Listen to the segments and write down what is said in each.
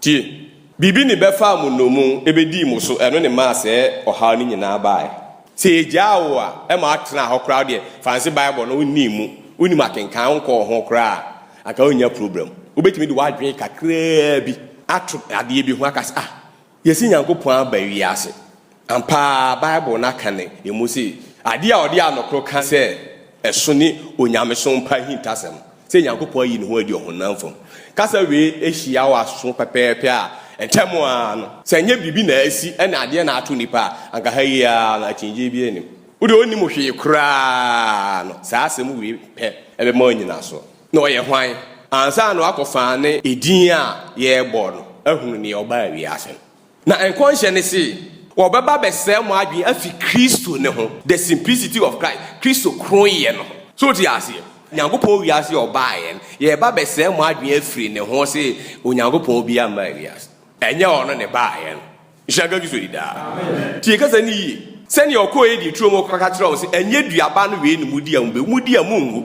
Tie! Biribi ne bɛfaa mo nnomu, ɛbɛdii mo so, ɛno ne maa sɛɛ ɔhaw no nyinaa baaɛ. Sɛ yɛgyaa wo a, ɛma woatenaa hɔ koraa, wodeɛ Franse Bible no wonnii mu, wonnim akenkan, wonkɔɔ ho koraa a, anka worennya problem. Wobɛtumi de w'adwene kakraa bi ato adeɛ bi ho aka sɛ, ah, yɛasi Nyankopɔn aba wiase. Ampa ara, Bible no aka no emu sɛ, Ade a ɔde anokoro ka sɛ ɛso ne onyamesom pa ahintasɛm, sɛ Nyankopɔn ayi ne ho adi ɔhonam fam. Kasa wei hyia wɔ aso pɛpɛɛpɛ a, ntɛm ara no, sɛ ɛnyɛ biribi na asi ne adeɛ na ato nnipa a, anka ha yi ara no akyinnyegyeɛ biara nnim. Wo deɛ ɔnnim hwee koraa no, saa asɛm wei pɛ bɛma wanya nnyinasoɔ. Na ɔyɛ hwan? Ansa na woakɔfa ne edin a yɛrebɔ no ahunu nea ɔbaa wiase no, Na nkɔnhyɛ no se, wɔbɛba abɛsɛɛ mo adwene afi Kristo no ho, the simplicity of Christ, Kristo kronnyɛ no ho. So wote aseɛ? Nyankopɔn wiase a ɔbaeɛ no, yɛreba abɛsɛɛ mo adwene afiri ne ho se Onyankopɔn biara mmaa wiase. Ɛnyɛ ɔno na ɛbaeɛ no. Nhyira nka Kristo di daa. Tie kasa no yie. Sɛdeɛ ɔkɔeɛ dii turo mu kɔka kyerɛɛ wɔn se, Ɛnyɛ dua ba no wei na modi a mobɛwu, modi a monwu.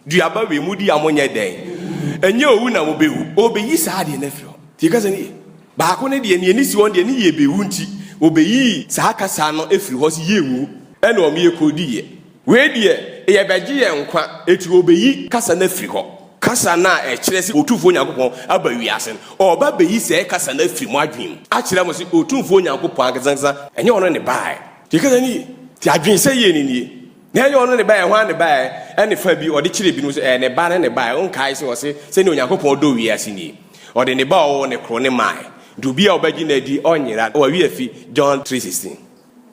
Duaba wei modi a monyɛ dɛn? Ɛnyɛ owu na mubewu. Obeyi saa adeɛ no afiri hɔ. Tie kasa no yie. Baako no deɛ, nea ani si hɔ no deɛ, ne yɛ bewu nti, obeyi saa kasa no afiri hɔ sɛ yɛnwu, ɛna wɔn yɛ kodiiɛ. Wei deɛ, yɛbɛgye yɛn nkwa, enti obeyi kasa no afiri hɔ. Kasa no a ɛkyerɛ sɛ Otumfoɔ Nyankopɔn aba wiase no, ɔreba abeyi saa kasa no afiri mo adwene mu, akyerɛ mo sɛ Otumfoɔ Nyankopɔn ankesankesa, ɛnyɛ ɔno na ɛbaeɛ. Tie kasa no yie. Tie adwensɛeɛ no nie. Nea ɛyɛ ɔno ne baeɛ, hwan ne baeɛ? Ɛne fa bi ɔde kyerɛ binom sɛ ɛyɛ ne ba ne ne baeɛ. Wonkae sɛ ɔse, sɛdeɛ Onyankopɔn dɔ wiase nie, ɔde ne ba a ɔwoo no koro no mae, nti obi a ɔbɛgye no adi ɔnyera, na wawi afi, John three sixteen.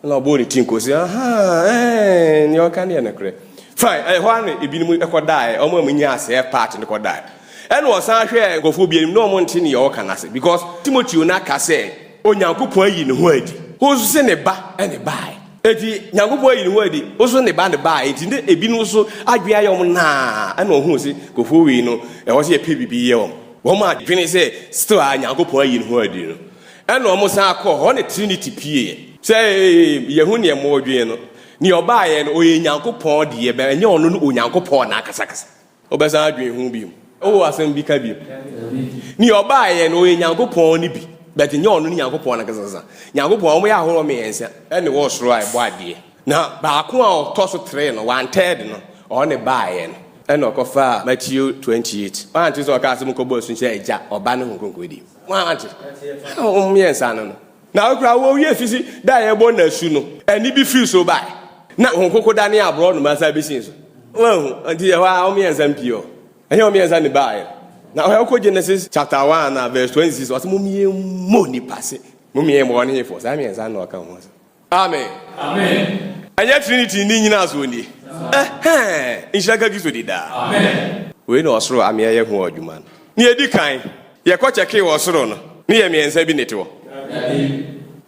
Ɛna ɔbɔɔ ne ti nkɔɔ se, Ahaa, ɛɛn, nea ɔka no yɛ nokorɛ. Fine, ɛhɔ ara na ebinom kɔdaeɛ, wɔn a wɔnyaa saa part no kɔdaeɛ. Ɛna ɔsan hwɛɛ nkurɔfoɔ bi anim, na wɔnte nea ɔreka no ase, because Timoteo no aka sɛ, Onyankopɔn ayi ne ho adi. Wo nso se ne ba ne bae. Enti Nyankopɔn ayi ne ho adi, wo nso ne ba ne bae. Enti na ebinom nso adwene ayɛ wɔn naa, na wɔhuu se kofoɔ wei no, ɛwɔ sɛ yɛpɛ biribi yɛ wɔn. Wɔn a dwene sɛ still ara Nyankopɔn ayi ne ho adi no, ɛna wɔn san kɔɔ hɔ ne Trinity pieeɛ. Sɛ yɛhu deɛ modwene no, deɛ ɔbaeɛ no, ɔyɛ Nyankopɔn deɛ, but ɛnyɛ ɔno ne Onyankopɔn no ankasakasa. Wobɛsan adwen ho biom? Wowɔ asɛm bi ka biom? Nea ɔbaeɛ no ɔyɛ Nyankopɔn no bi, but nyɛ ɔno ne Nyankopɔn nankasakasa. Nyankopɔn a wɔyɛ ahoroɔ mmiɛnsa ɛne wɔ soro a ɛbɔ adeɛ. Na baako a ɔtɔ so three no, one third no, ɔno ne baeɛ no. Ɛna ɔkɔfaa Matthew twenty eight. Woante sɛ ɔkaa sɛ monkɔbɔ asu nkyerɛ Agya, Ɔba ne Honhom Kronkron din? Woante? Wɔn mmiɛnsa no no. Na koraa wowiee fisi da a yɛbɔ no asu no, ɛnne bi firi soro bae, na hon koko danee aborɔnoma san bɛsii so. Woahu? Enti ɛhɔ ara wɔmmiɛnsa mpii hɔ. Ɛnyɛ wɔmmiɛnsa ne baeɛ. Na ɔhwɛ wokɔ Genesis chapter 1 a verse 26 a, ɔse mommiɛmmɔ nnipa se mommiɛ mmɔ wɔn hefoɔ? Saa mmiɛnsa no na ɔka ho asɛm. Amen. Ɛnyɛ Trinity nni nnyinasoɔ nie. Ɛhɛɛ! Nhyira nka Kristo di daa. Wei na ɔsoro ameɛ yɛ ho adwuma no. Nea edi kan, yɛkɔ kyɛkee wɔ ɔsoro no, ne yɛ mmiɛnsa bi na ɛte hɔ.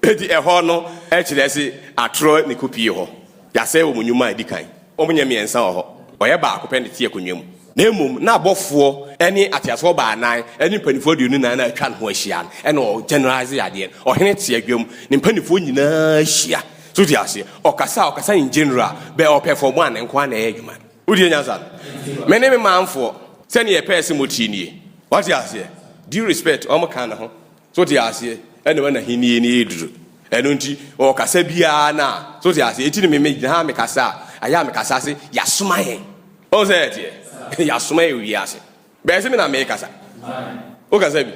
Enti ɛhɔ no kyerɛ se atorɔ na ɛkɔpie hɔ. Yɛasɛe wɔn nnwuma a edi kan. Wɔnyɛ mmiɛnsa wɔ hɔ, wɔyɛ baako pɛ na ɛte akonnwa mu. Na mmom na abɔfoɔ ne ateasefoɔ baanan ne mpanimfoɔ aduonu nnan no a atwa ne ho ahyia no na ɔɔ generalize adeɛ no. Ɔhene te adwa mu, ne mpanimfoɔ nyinaa hyia. So wote aseɛ? Ɔkasa a, ɔkasa in general, bɛ ɔpɛ fam a, ne nko ara na ɛyɛ adwuma no. Wodie nyansa? Me ne me manfoɔ sɛdeɛ yɛpɛɛ sɛ motie nie. Wate aseɛ? Due respect, wɔn ka ne ho. So te aseɛ? Ɛna wɔn ahennie no ɛreduru. Ɛno nti, ɔkasa biara no a, so te aseɛ? Eti no me megyina ha mekasa a, ayɛ a mekasa se, yɛasoma yɛn. Wohu sɛ ɛteɛ? Yɛasoma yɛn wɔ wiase. Bɛyɛ sɛ me na merekasa. Wokasa bi?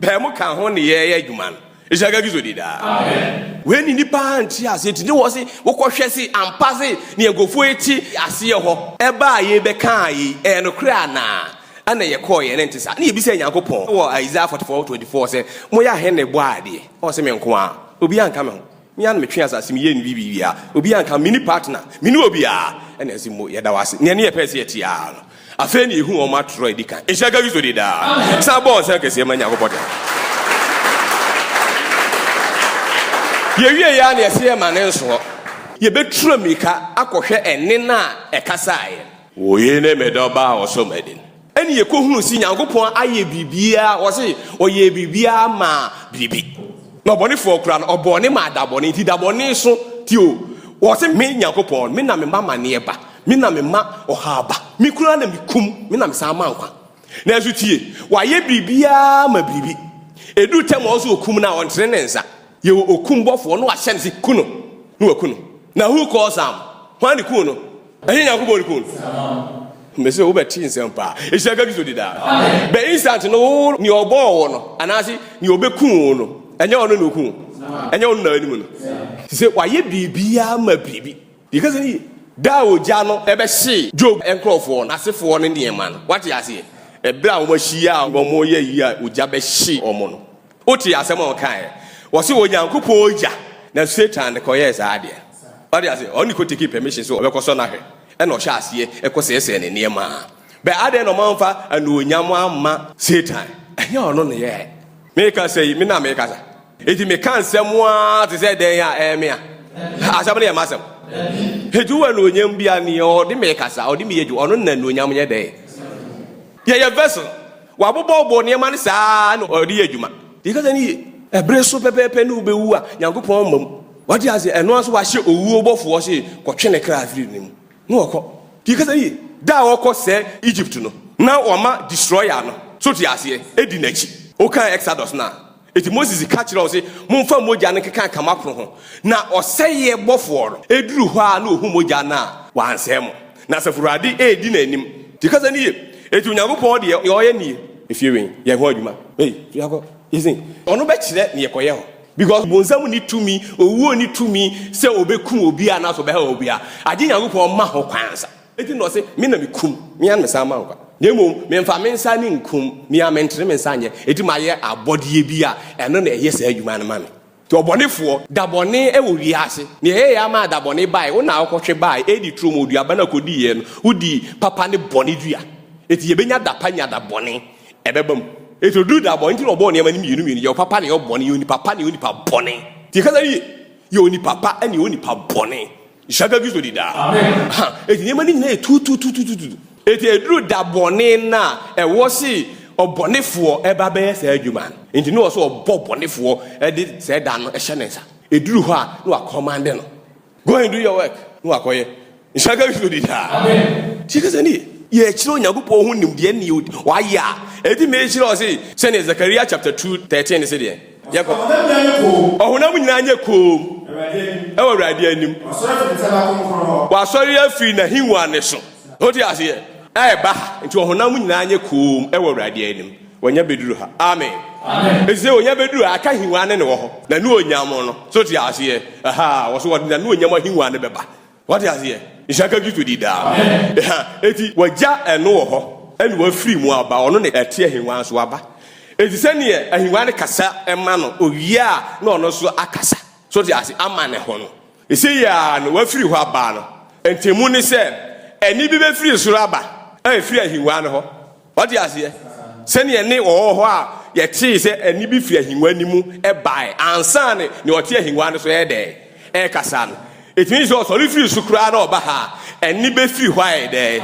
Bɛyɛ mo ka ho ne yɛyɛ adwuma no. Ɛhyɛ agagi so di daa. Wei ne nipa nte aseɛ ti ne wɔ se wokɔhwɛ se ampa se ne nkurɔfoɔ yi te aseɛ hɔ. Ɛba a yɛbɛkaa yi, ɛyɛ nokorɛ anaa? Ɛna yɛkɔeɛ na ɛnte saa. Na yɛbisaa Nyankopɔn wɔ Isaiah 44, 24 sɛ, Moyɛ ahe na ɛbɔɔ adeɛ? Ɔse, Me nko ara. Obiara nka me ho. Me a na metwe asase meyɛ no biribi a obiara nka ho, menni partner, menni obiara, ɛna ɛse mmo yɛda wo ase. Nea ne yɛpɛɛ sɛ yɛte ara no, afei na yɛhu wɔn atorɔ a ɛdi kan. Nhyira nka Kristo din daa. San bɔ wo nsa kɛseɛ ma Nyankopɔn daa. Yɛwieeɛ ara na yɛse yɛmma no nsoɔ. Yɛbɛturu mirika akɔhwɛ ɛnne no a ɛkasaeɛ no. Woyii ne medɔba a ɔsɔ m'ani no. Ɛne yɛkɔhunu se Nyankopɔn ayɛ biribiaa, wɔse ɔyɛɛ biribiaa maa biribi. Na ɔbɔnefoɔ koraa no, ɔbɔɔ ne maa dabɔne, nti dabɔne so nti o, wɔse me Nyankopɔn, me na mema amaneɛ ba, me na mema ɔhaw ba, me koraa na mekum, me na mesan ma nkwa. Nanso tie, wayɛ biribiaa ma biribi. Ɛduru tɛm a ɔsɛ ɔkum no a, ɔntene ne nsa. Yɛwɔ okum bɔfoɔ, na wahyɛ no se ku no, na waku no. Na who caused harm? Hwan ne kuu no? Ɛnyɛ Nyankopɔn ne kun. Mese wo bɛte nsɛm paa. Ehyia ka Kristo di daa. Bɛ instant no wo ne ɔbɔɔ wo no anaase ne ɔbɛku wo no ɛnyɛ ɔno ne oku wo. Ɛnyɛ ɔno na anim no. Sɛ wayɛ biribiara ma biribi. Yɛka sɛ ne da a ogya no ɛbɛhye Job nkorɔfoɔ no asefoɔ no nneɛma no. Wate aseɛ? Ɛberɛ a wɔahyia a wɔyɛ yi a ogya bɛhye wɔn no. Wotee asɛm a ɔkaeɛ? Wɔse Onyankopɔn ogya na Satan de kɔyɛɛ saa adeɛ. Wate aseɛ? Ɔno ne kɔtekii permission sɛ ɔbɛkɔsɔ no ahwɛ, ɛna ɔhyɛ aseɛ ɛkɔsɛesɛɛ ne nneɛma. Bɛ adɛn na ɔmamfa anuonyam amma Satan? Ɛnyɛ ɔno ne yɛɛ. Mekasa yi, me na mekasa. Enti meka nsɛm ara te sɛ dɛn a ɛyɛ me a? Asɛm no yɛ m'asɛm. Enti wowɔ anuonyam bi a, nea ɔde me kasa, ɔde me yɛ adwuma, ɔno na anuonyam yɛ dɛn? Yɛyɛ vessel. Wabobɔbobɔ nneɛma no saa ara na ɔde yɛ adwuma. Deɛ ɛkasa no ye. Ɛbere so pɛpɛɛpɛ ne wobɛwu a, Nyankopɔn mma mu. Wate aseɛ? Ɛno ara nso wahyɛ owuo bɔfoɔ se, Kɔtwe ne kra firi ne mu. Na ɔkɔ. Deɛ ɛkasa no ye. Da a ɔkɔ sɛ Egypt no, na wɔama Destroyer no, so te aseɛ, di n'akyi. Wokan Exodus no a. Enti Moses ka kyerɛɛ wɔn se, Momfa mogya no nkekanka m'apono ho. Na ɔsɛeɛ bɔfoɔ no duru hɔ ara na ɔhu mogya no a, wansɛe mo. Na Asafo Awurade redi n'anim. Te kasa no yie. Enti Onyankopɔn deɛ ɔyɛ nie. Efie wei yɛ ho adwuma. Ei, tu yɛnkɔ. Isin. Ɔno bɛkyerɛ neɛ kɔyɛ hɔ. Because bonsam nni tumi, owuo nni tumi sɛ ɔbɛkum obiara anaasɛ ɔbɛhaw obiara. Agye Nyankopɔn ma ho kwan ansa. Enti na ɔse, Me na mekum, me ara na mesan ma nkwa. Na mmom memfa me nsa ne nkum, me ara mentene me nsa nyɛ, enti mayɛ abɔdeɛ bi a ɛno na ɛyɛ saa adwuma no ma me. Nti ɔbɔnefoɔ, da bɔne wɔ wiase, nea ɛyɛeɛ ara maa da bɔne baeɛ, wo na wokɔhwe baeɛ, Edi turo mu, ɔduaba no a ɔkɔdiiɛ no, wodii papa ne bɔne dua, enti yɛbɛnya da pa nya da bɔne, ɛbɛba mu. Enti ɔduruu da bɔne, enti na ɔbɔɔ nneɛma no mmienu mmienu, yɛ ɔpapa ne yɛ ɔbɔne, yɛ onipa pa ne yɛ onipa bɔne. Nti yɛkasa wie, yɛ onipa pa ne yɛ onipa bɔne, Nhyira Kristo di daa. Amen. Eti nneɛma no nyinaa yɛ tutututututu. Eti eduru da bɔne no a ɛwɔ se ɔbɔnefoɔ ɛba bɛyɛ saa adwuma no, enti na ɛwɔ sɛ ɔbɔ ɔbɔnefoɔ de saa da no hyɛ ne nsa. Eduru hɔ a, na wakɔmande no, Go and do your work, na wakɔyɛ. Nhyira nka Kristo di daa. Amen. Tie kasa no yie. Yɛkyerɛ Onyankopɔn ho nimdeɛ ne deɛ Wayɛ a, ɛtumi hyira wo se, sɛdeɛ Zakaria chapter two thirteen no se deɛn? Yɛkɔ. Ɔhonam nyinaa nyɛ koom wɔ Awurade anim. Wasɔre afiri n'ahengua no so. Wote aseɛ? Ɛreba ha. Nti ɔhonam nyinaa nyɛ koom wɔ Awurade anim. Wɔnya bɛduru ha. Amen. Ɛti sɛ wɔnya bɛduru ha, aka ahengua no ne wɔ hɔ. N'anuonyam no. So te aseɛ? Aha, wɔso wɔde n'anuonyam ahengua no bɛba. Wate aseɛ? Nhyira ka Kristo din daa. Ɛha, enti Wagya ɛno wɔ hɔ, ɛna Wafiri mu aba, Ɔno na ɛte ahennwa so aba. Enti sɛdeɛ ahennwa no kasa ma no, ɔwie a na ɔno nso akasa, so wote aseɛ, ama ne ho no. Ɛsei ara no Wafiri hɔ aba no, ntɛmmu ne sɛ, ɛnne bi bɛfiri soro aba a ɛfiri ahennwa no hɔ. Wate aseɛ? Sɛdeɛ ɛnne wɔ hɔ hɔ a yɛtee sɛ ɛnne bi firi ahengua no mu baeɛ ansa na nea ɔte ahengua no so yɛ dɛn? Ɛrekasa no. Ɛtumi yɛ sɛ ɔsɔre firii so koraa na ɔba ha a, ɛnne bɛfiri hɔ ayɛ dɛn?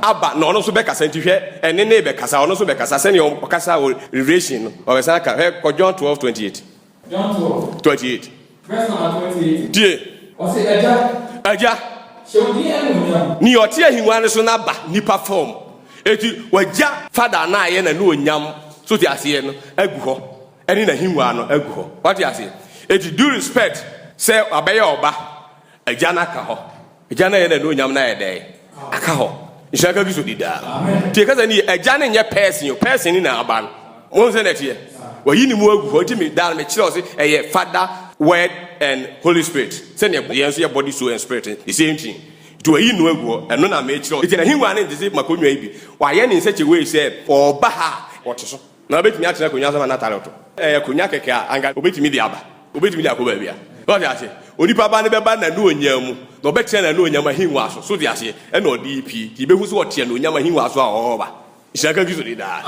Aba, na ɔno nso bɛkasa. Nti hwɛ, ɛnne no rebɛkasa, ɔno nso bɛkasa sɛdeɛ ɔkasaa wɔ Revelation no, ɔbɛsan aka. Hwɛ, kɔ John twelve twenty eight. John twelve. Twenty eight. Verse number twenty eight. Tie. Ɔsi ɛgya. Ɛgya. Hyɛ odi ɛnu onyam. Ni ɔte ahengua no so n'aba nipa fam. Eti wagya fada na ayɛ n'anu onyam so te aseɛ no agu hɔ ɛne n'ahengua no agu hɔ. Wate aseɛ? Eti do respect sɛ wabɛyɛ ɔba, ɛgya no aka hɔ. Agya no yɛ n'anuonyam na ayɛ dɛn aka hɔ. Nhyira ka Kristo di daa. Tie kasa ni yɛ. Agya no nyɛ pɛɛsen o, pɛɛsen ni na aba no. Mo nsɛ na ɛteɛ. Wayi ne mu agu hɔ. Nti me daa no me kyerɛ ɔse ɛyɛ Father, Word and Holy Spirit. Sɛnea yɛn nso yɛ body, soul and spirit no, the same thing. Nti wayi no agu hɔ. Ɛno na mekyerɛ. Nti n'ahengua no nte se m'akonnwa yi bi. Wayɛ ne nsɛkyewee sɛ ɔɔba ha a ɔte so. Na obetumi atena akonnwa so ama n'atade ɔtɔ. Ɛyɛ akonnwa kɛkɛ a anka obetumi de aba. Obetumi de akɔ baabiara. So ɔte aseɛ? Onipa Ba no bɛba n'anuonyam mu, na ɔbɛtena n'anuonyam ahengua so. So wote aseɛ? Ɛna ɔde repue. Nti yebehu sɛ ɔte anuonyam ahengua so a ɔreba. Nhyira nka Kristo din daa.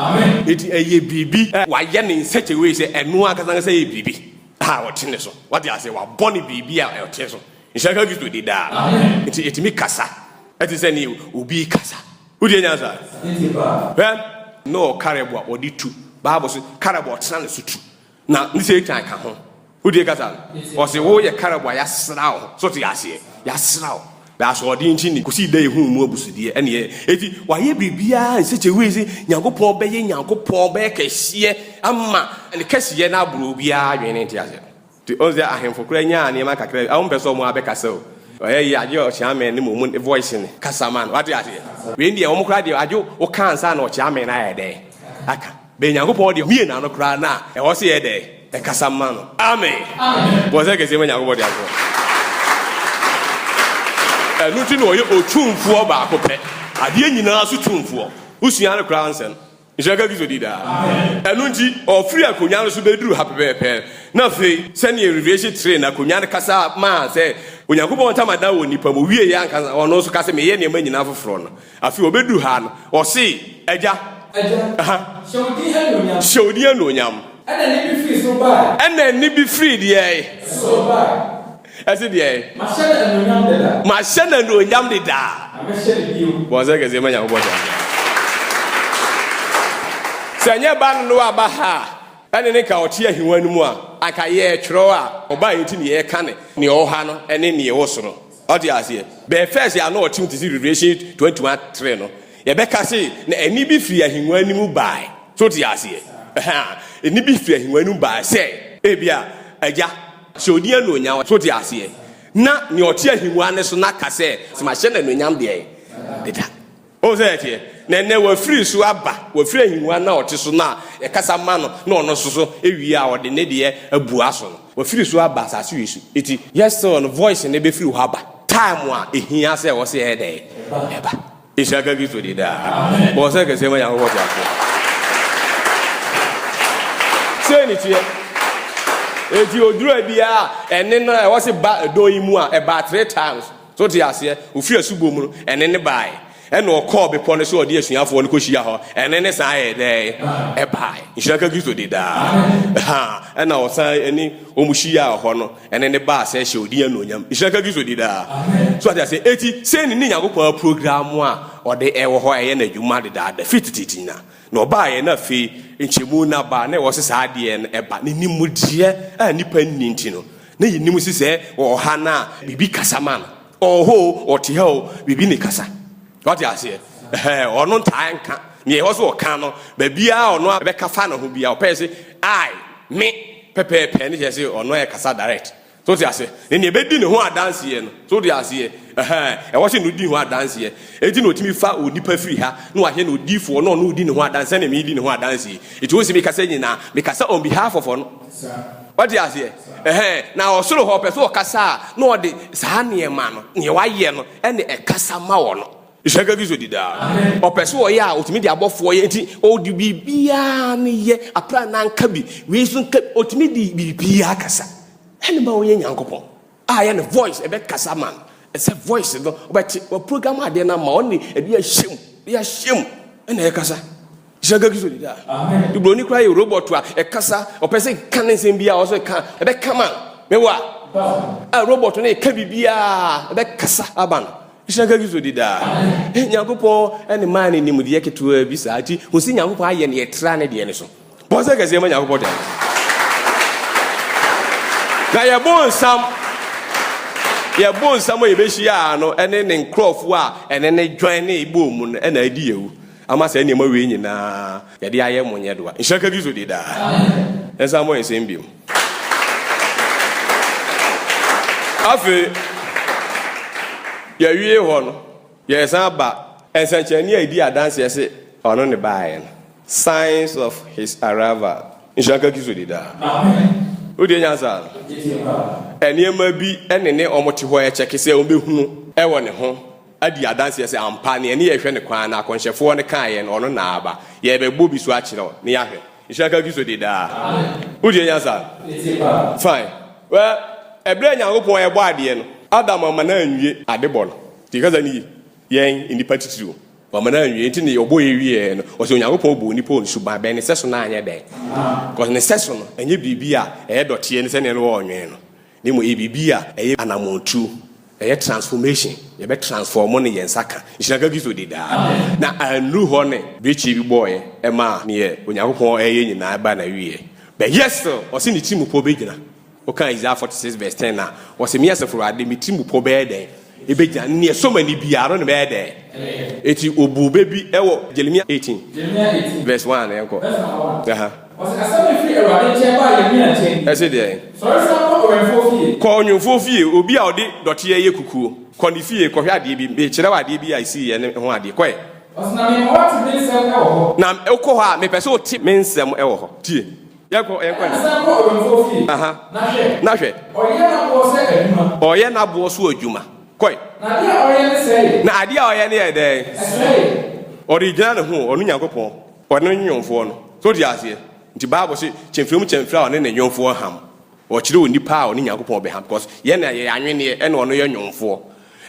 Enti ɛyɛ biribi a wɔayɛ no in such a way sɛ ɛno ankasa ankasa yɛ biribi a ɔte ne so. Woate aseɛ? Wɔabɔ no biribi a ɔte so. Nhyira nka Kristo din daa. Nti etumi kasa te sɛ nea obi rekasa. Wodie nyansa? Hwɛ na ɔwɔ karɛbo a ɔde tu. Bible se karɛbo a ɔtena ne so tu. Na ne Satan ka ho. Wodie kasa no? Ɔse woyɛ karɛbo a yɛasra wo. So te aseɛ? Yɛasra wo. Na asoɔden nti ne kɔsi dɛ yɛhuu mu abusudeɛ ɛne yɛ. Eti wayɛ biribiara nsɛkyɛ wei se Nyankopɔn bɛyɛ Nyankopɔn bɛyɛ kɛseɛ ama ne kɛseyɛ no aboro obiara adwene. Te aseɛ? Te ɔn sɛ ahenfo koraa nyaa nneɛma kakra bi a wɔn pɛ sɛ wɔn abɛkasa o. Ɔyɛ yie agye ɔkyeamen ne mom ne voice no kasa man wate aseɛ. Wei deɛ wɔn koraa deɛ agye wo ka ansa na ɔkyeamen ayɛ dɛ aka. Bɛ Nyankopɔn deɛ mie na no koraa na ɛwɔ sɛ yɛ dɛ ɛkasa man no. Amen. Bɔ sɛ kɛseɛ ma Nyankopɔn deɛ agye wɔn. Ɛno nti na ɔyɛ otumfoɔ baako pɛ. Adeɛ nyinaa so tumfoɔ. Wo sua no koraa nsɛ no. Nhyira nka Kristo din daa. Ɛno nti, ɔfiri akonnwa no so bɛduruu ha pɛpɛɛpɛ, na afei, sɛdeɛ Revelation kyerɛɛ no, akonnwa no kasa maa sɛ Onyankopɔn ntamadan wɔ nnipa mu, ɔwieeɛ ankasa, ɔno nso ka sɛ, Meyɛ nneɛma nyinaa foforɔ no. Afei ɔbɛduruu ha no, ɔse, Agya. Agya, hyɛ wo din anuonyam. Hyɛ wo din anuonyam. Ɛnna nne bi firii soro baeɛ. Ɛnna nne bi firii deɛ? Soro baeɛ. Ɛse deɛn? Mahyɛ no anuonyam dedaa. Mahyɛ no anuonyam dedaa. Na mɛhyɛ no bio. Bɔnsɛ kɛseɛ ma Nyankopɔn saa deɛ. Sɛ ɛnyɛ ba no no a ba ha a ɛne no nka ɔte ahiwa no mu a, anka yɛɛtwerɛ a ɔba yɛ nti na yɛɛka no neɛ ɔwɔ ha no ne neɛ ɔwɔ soro. Ɔte aseɛ? Bɛɛ fɛɛse a na ɔte mu te se Revelation 21 3 no, yɛbɛka se na ɛne bi firi ahiwa no mu baae. So wote aseɛ? Ɛhɛa, ɛne bi firi ahiwa no mu baae sɛ ebia Agya, Hyɛ odin anuonyam. So wote aseɛ? Na nea ɔte ahengua no so no ka sɛ, Mahyɛ no anuonyam deɛ deda. Wohu sɛdeɛ ɛteɛ? Na ɛnnɛ wafiri so aba, wafiri ahengua no a ɔte so no a yɛkasa ma no na ɔno nso so wie a ɔde ne deɛ abua so no, wafiri so aba asase wei so. Enti yet still no voice no bɛfiri hɔ aba time a ɛhia sɛ ɛwɔ sɛ ɛyɛ dɛn? Ɛba. Nhyira nka Kristo din daa. Bɔ ɔsɛ kɛseɛ ma Nyankopɔn te aseɛ. Sei ne teɛ. Enti odura biara ɛne no a ɛwɔ se ba ɛdɔn yi mu a ɛbaa three times. So te aseɛ? Ofiri asubɔ mu no ɛne ne baae. Ɛna ɔkɔɔ bepɔ no so ɔde asuafoɔ no kɔhyia hɔ. Ɛne ne san yɛ dɛn? Ɛbaae. Nhyira nka Kristo din daa. Ɛha ɛna ɔsan ɛne wɔn hyiaa hɔ no. ɛne ne ba asɛ hyɛ ɔdin anuonyam nhyira nka kristo di daa so ate ase eti sɛ ne ne nyankopɔn aprogram a ɔde ɛwɔ hɔ a ɛyɛ no adwuma dedaada firi tititi nyina na ɔbaa yɛ na afei nkyɛmu na ba na ɛwɔ se saa adeɛ no ɛba ne nimudeɛ a nipa nni nti no na yɛnim si sɛ ɔha no a biribi kasa ma no ɔwɔ hɔ o ɔte ha o biribi ne kasa Wate aseɛ? Ɛhɛɛ, ɔno ntaa nka. Neɛ ɛwɔ sɛ ɔka no, baabiaa ɔno a bɛka fa ne ho biaa, ɔpɛɛ se, I, me, pɛpɛɛpɛ, ne kyerɛ se ɔno ɛɛkasa direct. So wote aseɛ? Ne neɛ bɛdi ne ho adanseɛ no, so wote aseɛ? Ɛhɛɛ, ɛwɔ se no di ho adanseɛ. Enti na ɔtumi fa onipa firi ha, na wahye no odiyifoɔ, na ɔno redi ne ho adanseɛ sɛdeɛ meedi ne ho adanseɛ yi. Enti wohu se mekasa nyinaa, mekasa on behalf of ɔno. Wate aseɛ? Ɛhɛn, na ɔsoro hɔ pɛ sɛ ɔkasa a, na ɔde saa nneɛma no, nea wayɛ no, ɛna ɛkasa ma wɔ no. Nhyira nka Kristo di daa. Ɔpɛ sɛ ɔyɛ a, ɔtumi de abɔfoɔ yɛ, nti ɔde biribiara no yɛ, aprannaa nka bi, wei nso nka bi, ɔtumi de biribiara kasa, ɛna ɛma ɔyɛ Nyankopɔn. A yɛ no voice ɛbɛ kasa ma no ɛsɛ voice no ɔbɛte wɔ program adeɛ no ama ɔne ɛde ahyɛ mu de ahyɛ mu ɛna yɛ kasa hyɛ gagi so dida de buroni kora yɛ robot a ɛkasa ɔpɛ sɛ ka ne nsɛm bi a ɔsɛ ka ɛbɛ ka ma mɛwa a robot no ɛka biribi a ɛbɛ kasa ama no hyɛ gagi so dida nyankopɔn ɛne maa ne nimdeɛ ketewa bi saa ti ho sɛ nyankopɔn ayɛ ne yɛtra ne deɛ ne so Bɔ nsɛm kɛseɛ ma Nyankopɔn dɛn Na yɛ bo nsam yɛ bo nsam a yɛbɛhyia a no ɛne ne nkurɔfoɔ a ɛne ne dwan ne bɔɔ mu no ɛna adi yɛwu ama saa nneɛma wei nyinaa yɛde ayɛ mo nyɛ doa nhyira ka Kristo di daa ɛnsa mmɔ nsɛm biom afei yɛwie hɔ no Yɛresan ba nsɛnkyerɛnne a edi adanseɛ se ɔno ne baeɛ no, signs of his arrival. Nhyira nka Kristo di daa. Wotie nyansa no? Nneɛma bi ne ne wɔn te hɔ rekyɛke sɛ wɔbɛhunu wɔ ne ho adi adanseɛ sɛ ampa neɛ ne yɛrehwɛ no kwan no akɔnhyɛfoɔ no kaeɛ no ɔno na aba. Yɛrebɛbɔ bi so akyerɛ wo na yɛahwɛ. Nhyira nka Kristo di daa. Wotie nyansa no? Fine. Well, ɛberɛ a Nyankopɔn rebɔ adeɛ no, Adam amma no anwie adebɔ no. Yɛn kasa no ye, yɛn nnipa titiriw o. Wama no anwie, enti ne ɔbɔ yɛ wieɛ no, ɔse Onyankopɔn bɔɔ onipa wɔ ne suban bɛn, ne sɛso no anyɛ dɛn? Cos ne sɛso no ɛnyɛ biribi a ɛyɛ dɔteɛ ne sɛdeɛ ne wɔɔnwene no, na mmom ɛyɛ biribi a ɛyɛ anamɔn tuo, ɛyɛ transformation, yɛbɛ transform no yɛn nsa ka, nhyira nka Kristo di daa. Na annuru hɔ ne brekyeɛ bi bɔɔeɛ maa neɛ Onyankopɔn ɛɛyɛ nyinaa baa nawieɛ, but yet still ɔse ne tirimupɔ bɛgyina. Wokan Isaiah forty six vs ten a, ɔse, Me Asafo Awurade, me tirim pɔ bɛyɛ dɛn begyina, ne nea ɛsɔ m'ani biara no na mɛyɛ dɛn? Enti obuu bɛ bi wɔ Jeremia eighteen vs one a, yɛnkɔ. Aha. Ɔse, Asɛm no firi Awurade nkyɛn baa Yeremia nkyɛn nie. Ɛse deɛn? Sɔre san kɔ ɔwɛmfoɔ fie. Kɔ ɔnwemfoɔ fie, obi a ɔde dɔteɛ yɛ kukuo. Kɔ ne fie kɔhwɛ adeɛ bi, merekyerɛ wo adeɛ bi a ɛsiiɛ no ho adeɛ. Kɔ ɛ. Ɔse, Na mema woate me nsɛm wɔ hɔ. Na wokɔ hɔ a, mepɛ sɛ wote me nsɛm wɔ hɔ. Tie. yɛn kɔ yɛn kɔ. ɛna san kɔ ɔwɛmfoɔ fie. aha na hwɛ. na hwɛ. ɔyɛ n'aboɔ sɛ adwuma. ɔyɛ n'aboɔ so adwuma. kɔe. na adeɛ a ɔyɛ ne sɛe. na adeɛ a ɔyɛ ne yɛ dɛn. ɛsɛe. ɔde gyina ne ho ɔno Nyankopɔn ɔne ne nyɔnfoɔ no so te aseɛ nti Bible se kyɛmfiri mu kyɛmfiri a ɔne ne nyɔnfoɔ ham. Ɔkyerɛ onipa a ɔne Nyankopɔn bɛha because yɛn na yɛyɛ anwenneɛ ɛna ɔno yɛ nwomfoɔ.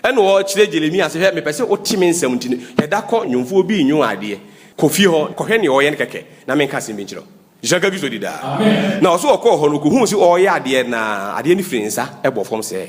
Ɛna ɔkyerɛ Jeremia sɛ hwɛ mepɛ sɛ wote me nsɛm nti no hwɛ da kɔ nwomfoɔ bi nnwom adeɛ kɔ fie hɔ kɔhwɛ neɛ ɔyɛ no kɛkɛ na menka asɛm bi nkyerɛ wo. Nhyira nka Kristo di daa. Na ɔse ɔkɔɔ hɔ no ɔkɔhuu se ɔreyɛ adeɛ na adeɛ no firi ne nsa bɔ fam sɛɛ.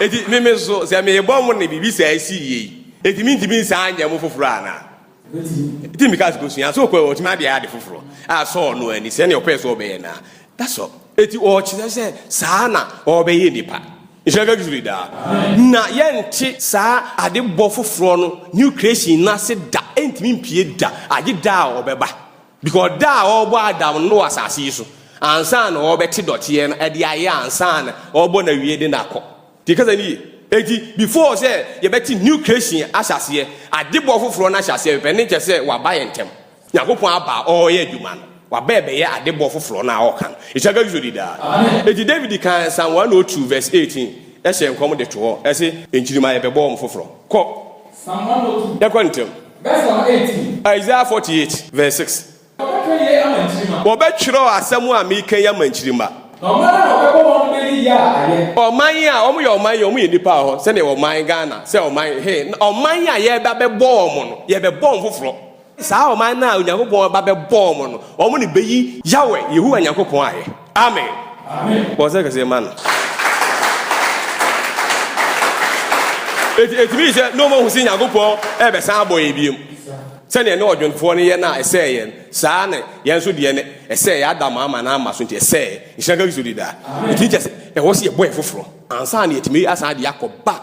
Enti me nso, sɛ merebɔ mo ne biribi saa si yie yi, enti mentumi nsan nyɛ mo foforɔ anaa? Enti mekaa sɛ, Kɔsua. Sɛ ɔkɔɛ a, ɔtumi adeɛ ade foforɔ a asɔɔ no ani, sɛdeɛ ɔpɛɛ sɛ ɔbɛyɛ no ara. That's all. Enti ɔkyerɛ sɛ saa na ɔrebɛyɛ nnipa. Nhyira nka Kristo daa. Na yɛnte saa adebɔ foforɔ no, New Creation, no ase da. Ɛntumi mpue da, agye da a ɔbɛba. Because da a wɔbɔ Adam no wɔ asase yi so ansa na wɔbɛte dɔteɛ no ɛde ayɛ ansa na wɔbɔ no awie de no akɔ. Ti kasa ni yie. Eti before sɛ yɛbɛte new creation ahyɛ aseɛ, adebɔ foforɔ no ahyɛ aseɛ pɛpɛ ne kyɛ sɛ waba yɛ ntɛm. Nyankopɔn aba a ɔreyɛ adwuma no. Waba ɛbɛyɛ adebɔ foforɔ no a ɔreka no. Ɛhyɛ ka Kristo di daa. Eti David kan Psalm 102 verse 18 hyɛɛ nkɔm de to hɔ, ɛse, Nkyirima yɛbɛbɔ wɔn foforɔ. Kɔ. Yɛkɔ ntɛm. Isaiah 48 vs 6. Wɔbɛtwerɛ asɛm a mereka yi ama nkyirimma. Ɔman a wɔyɛ ɔman yi wɔyɛ nnipa hɔ sɛdeɛ ɔman Ghana sɛ ɔman he ɔman a yɛbɛbɔ wɔn no yɛbɛbɔ wɔn foforɔ. Saa ɔman no a Onyankopɔn ba bɛbɔɔ wɔn no, wɔn na ebeyi Yahweh, Yehowa Nyankopɔn ayɛ. Amen! Bɔ nsɛ kɛse ma no. Enti etumi yi sɛ na wɔahu sɛ Nyankopɔn rebɛsan abɔ yɛn bio. Sɛnea ɛne ɔdwontofoɔ no yɛ no a ɛsɛee yɛn, saa na yɛn nso deɛ no, ɛsɛee yɛn Adam ama no ama so nti ɛsɛee. Nhyira nka Kristo di daa. Etumi kyerɛ sɛ ɛwɔ sɛ yɛbɔ yɛn foforɔ ansa na yɛatumi asan de akɔ back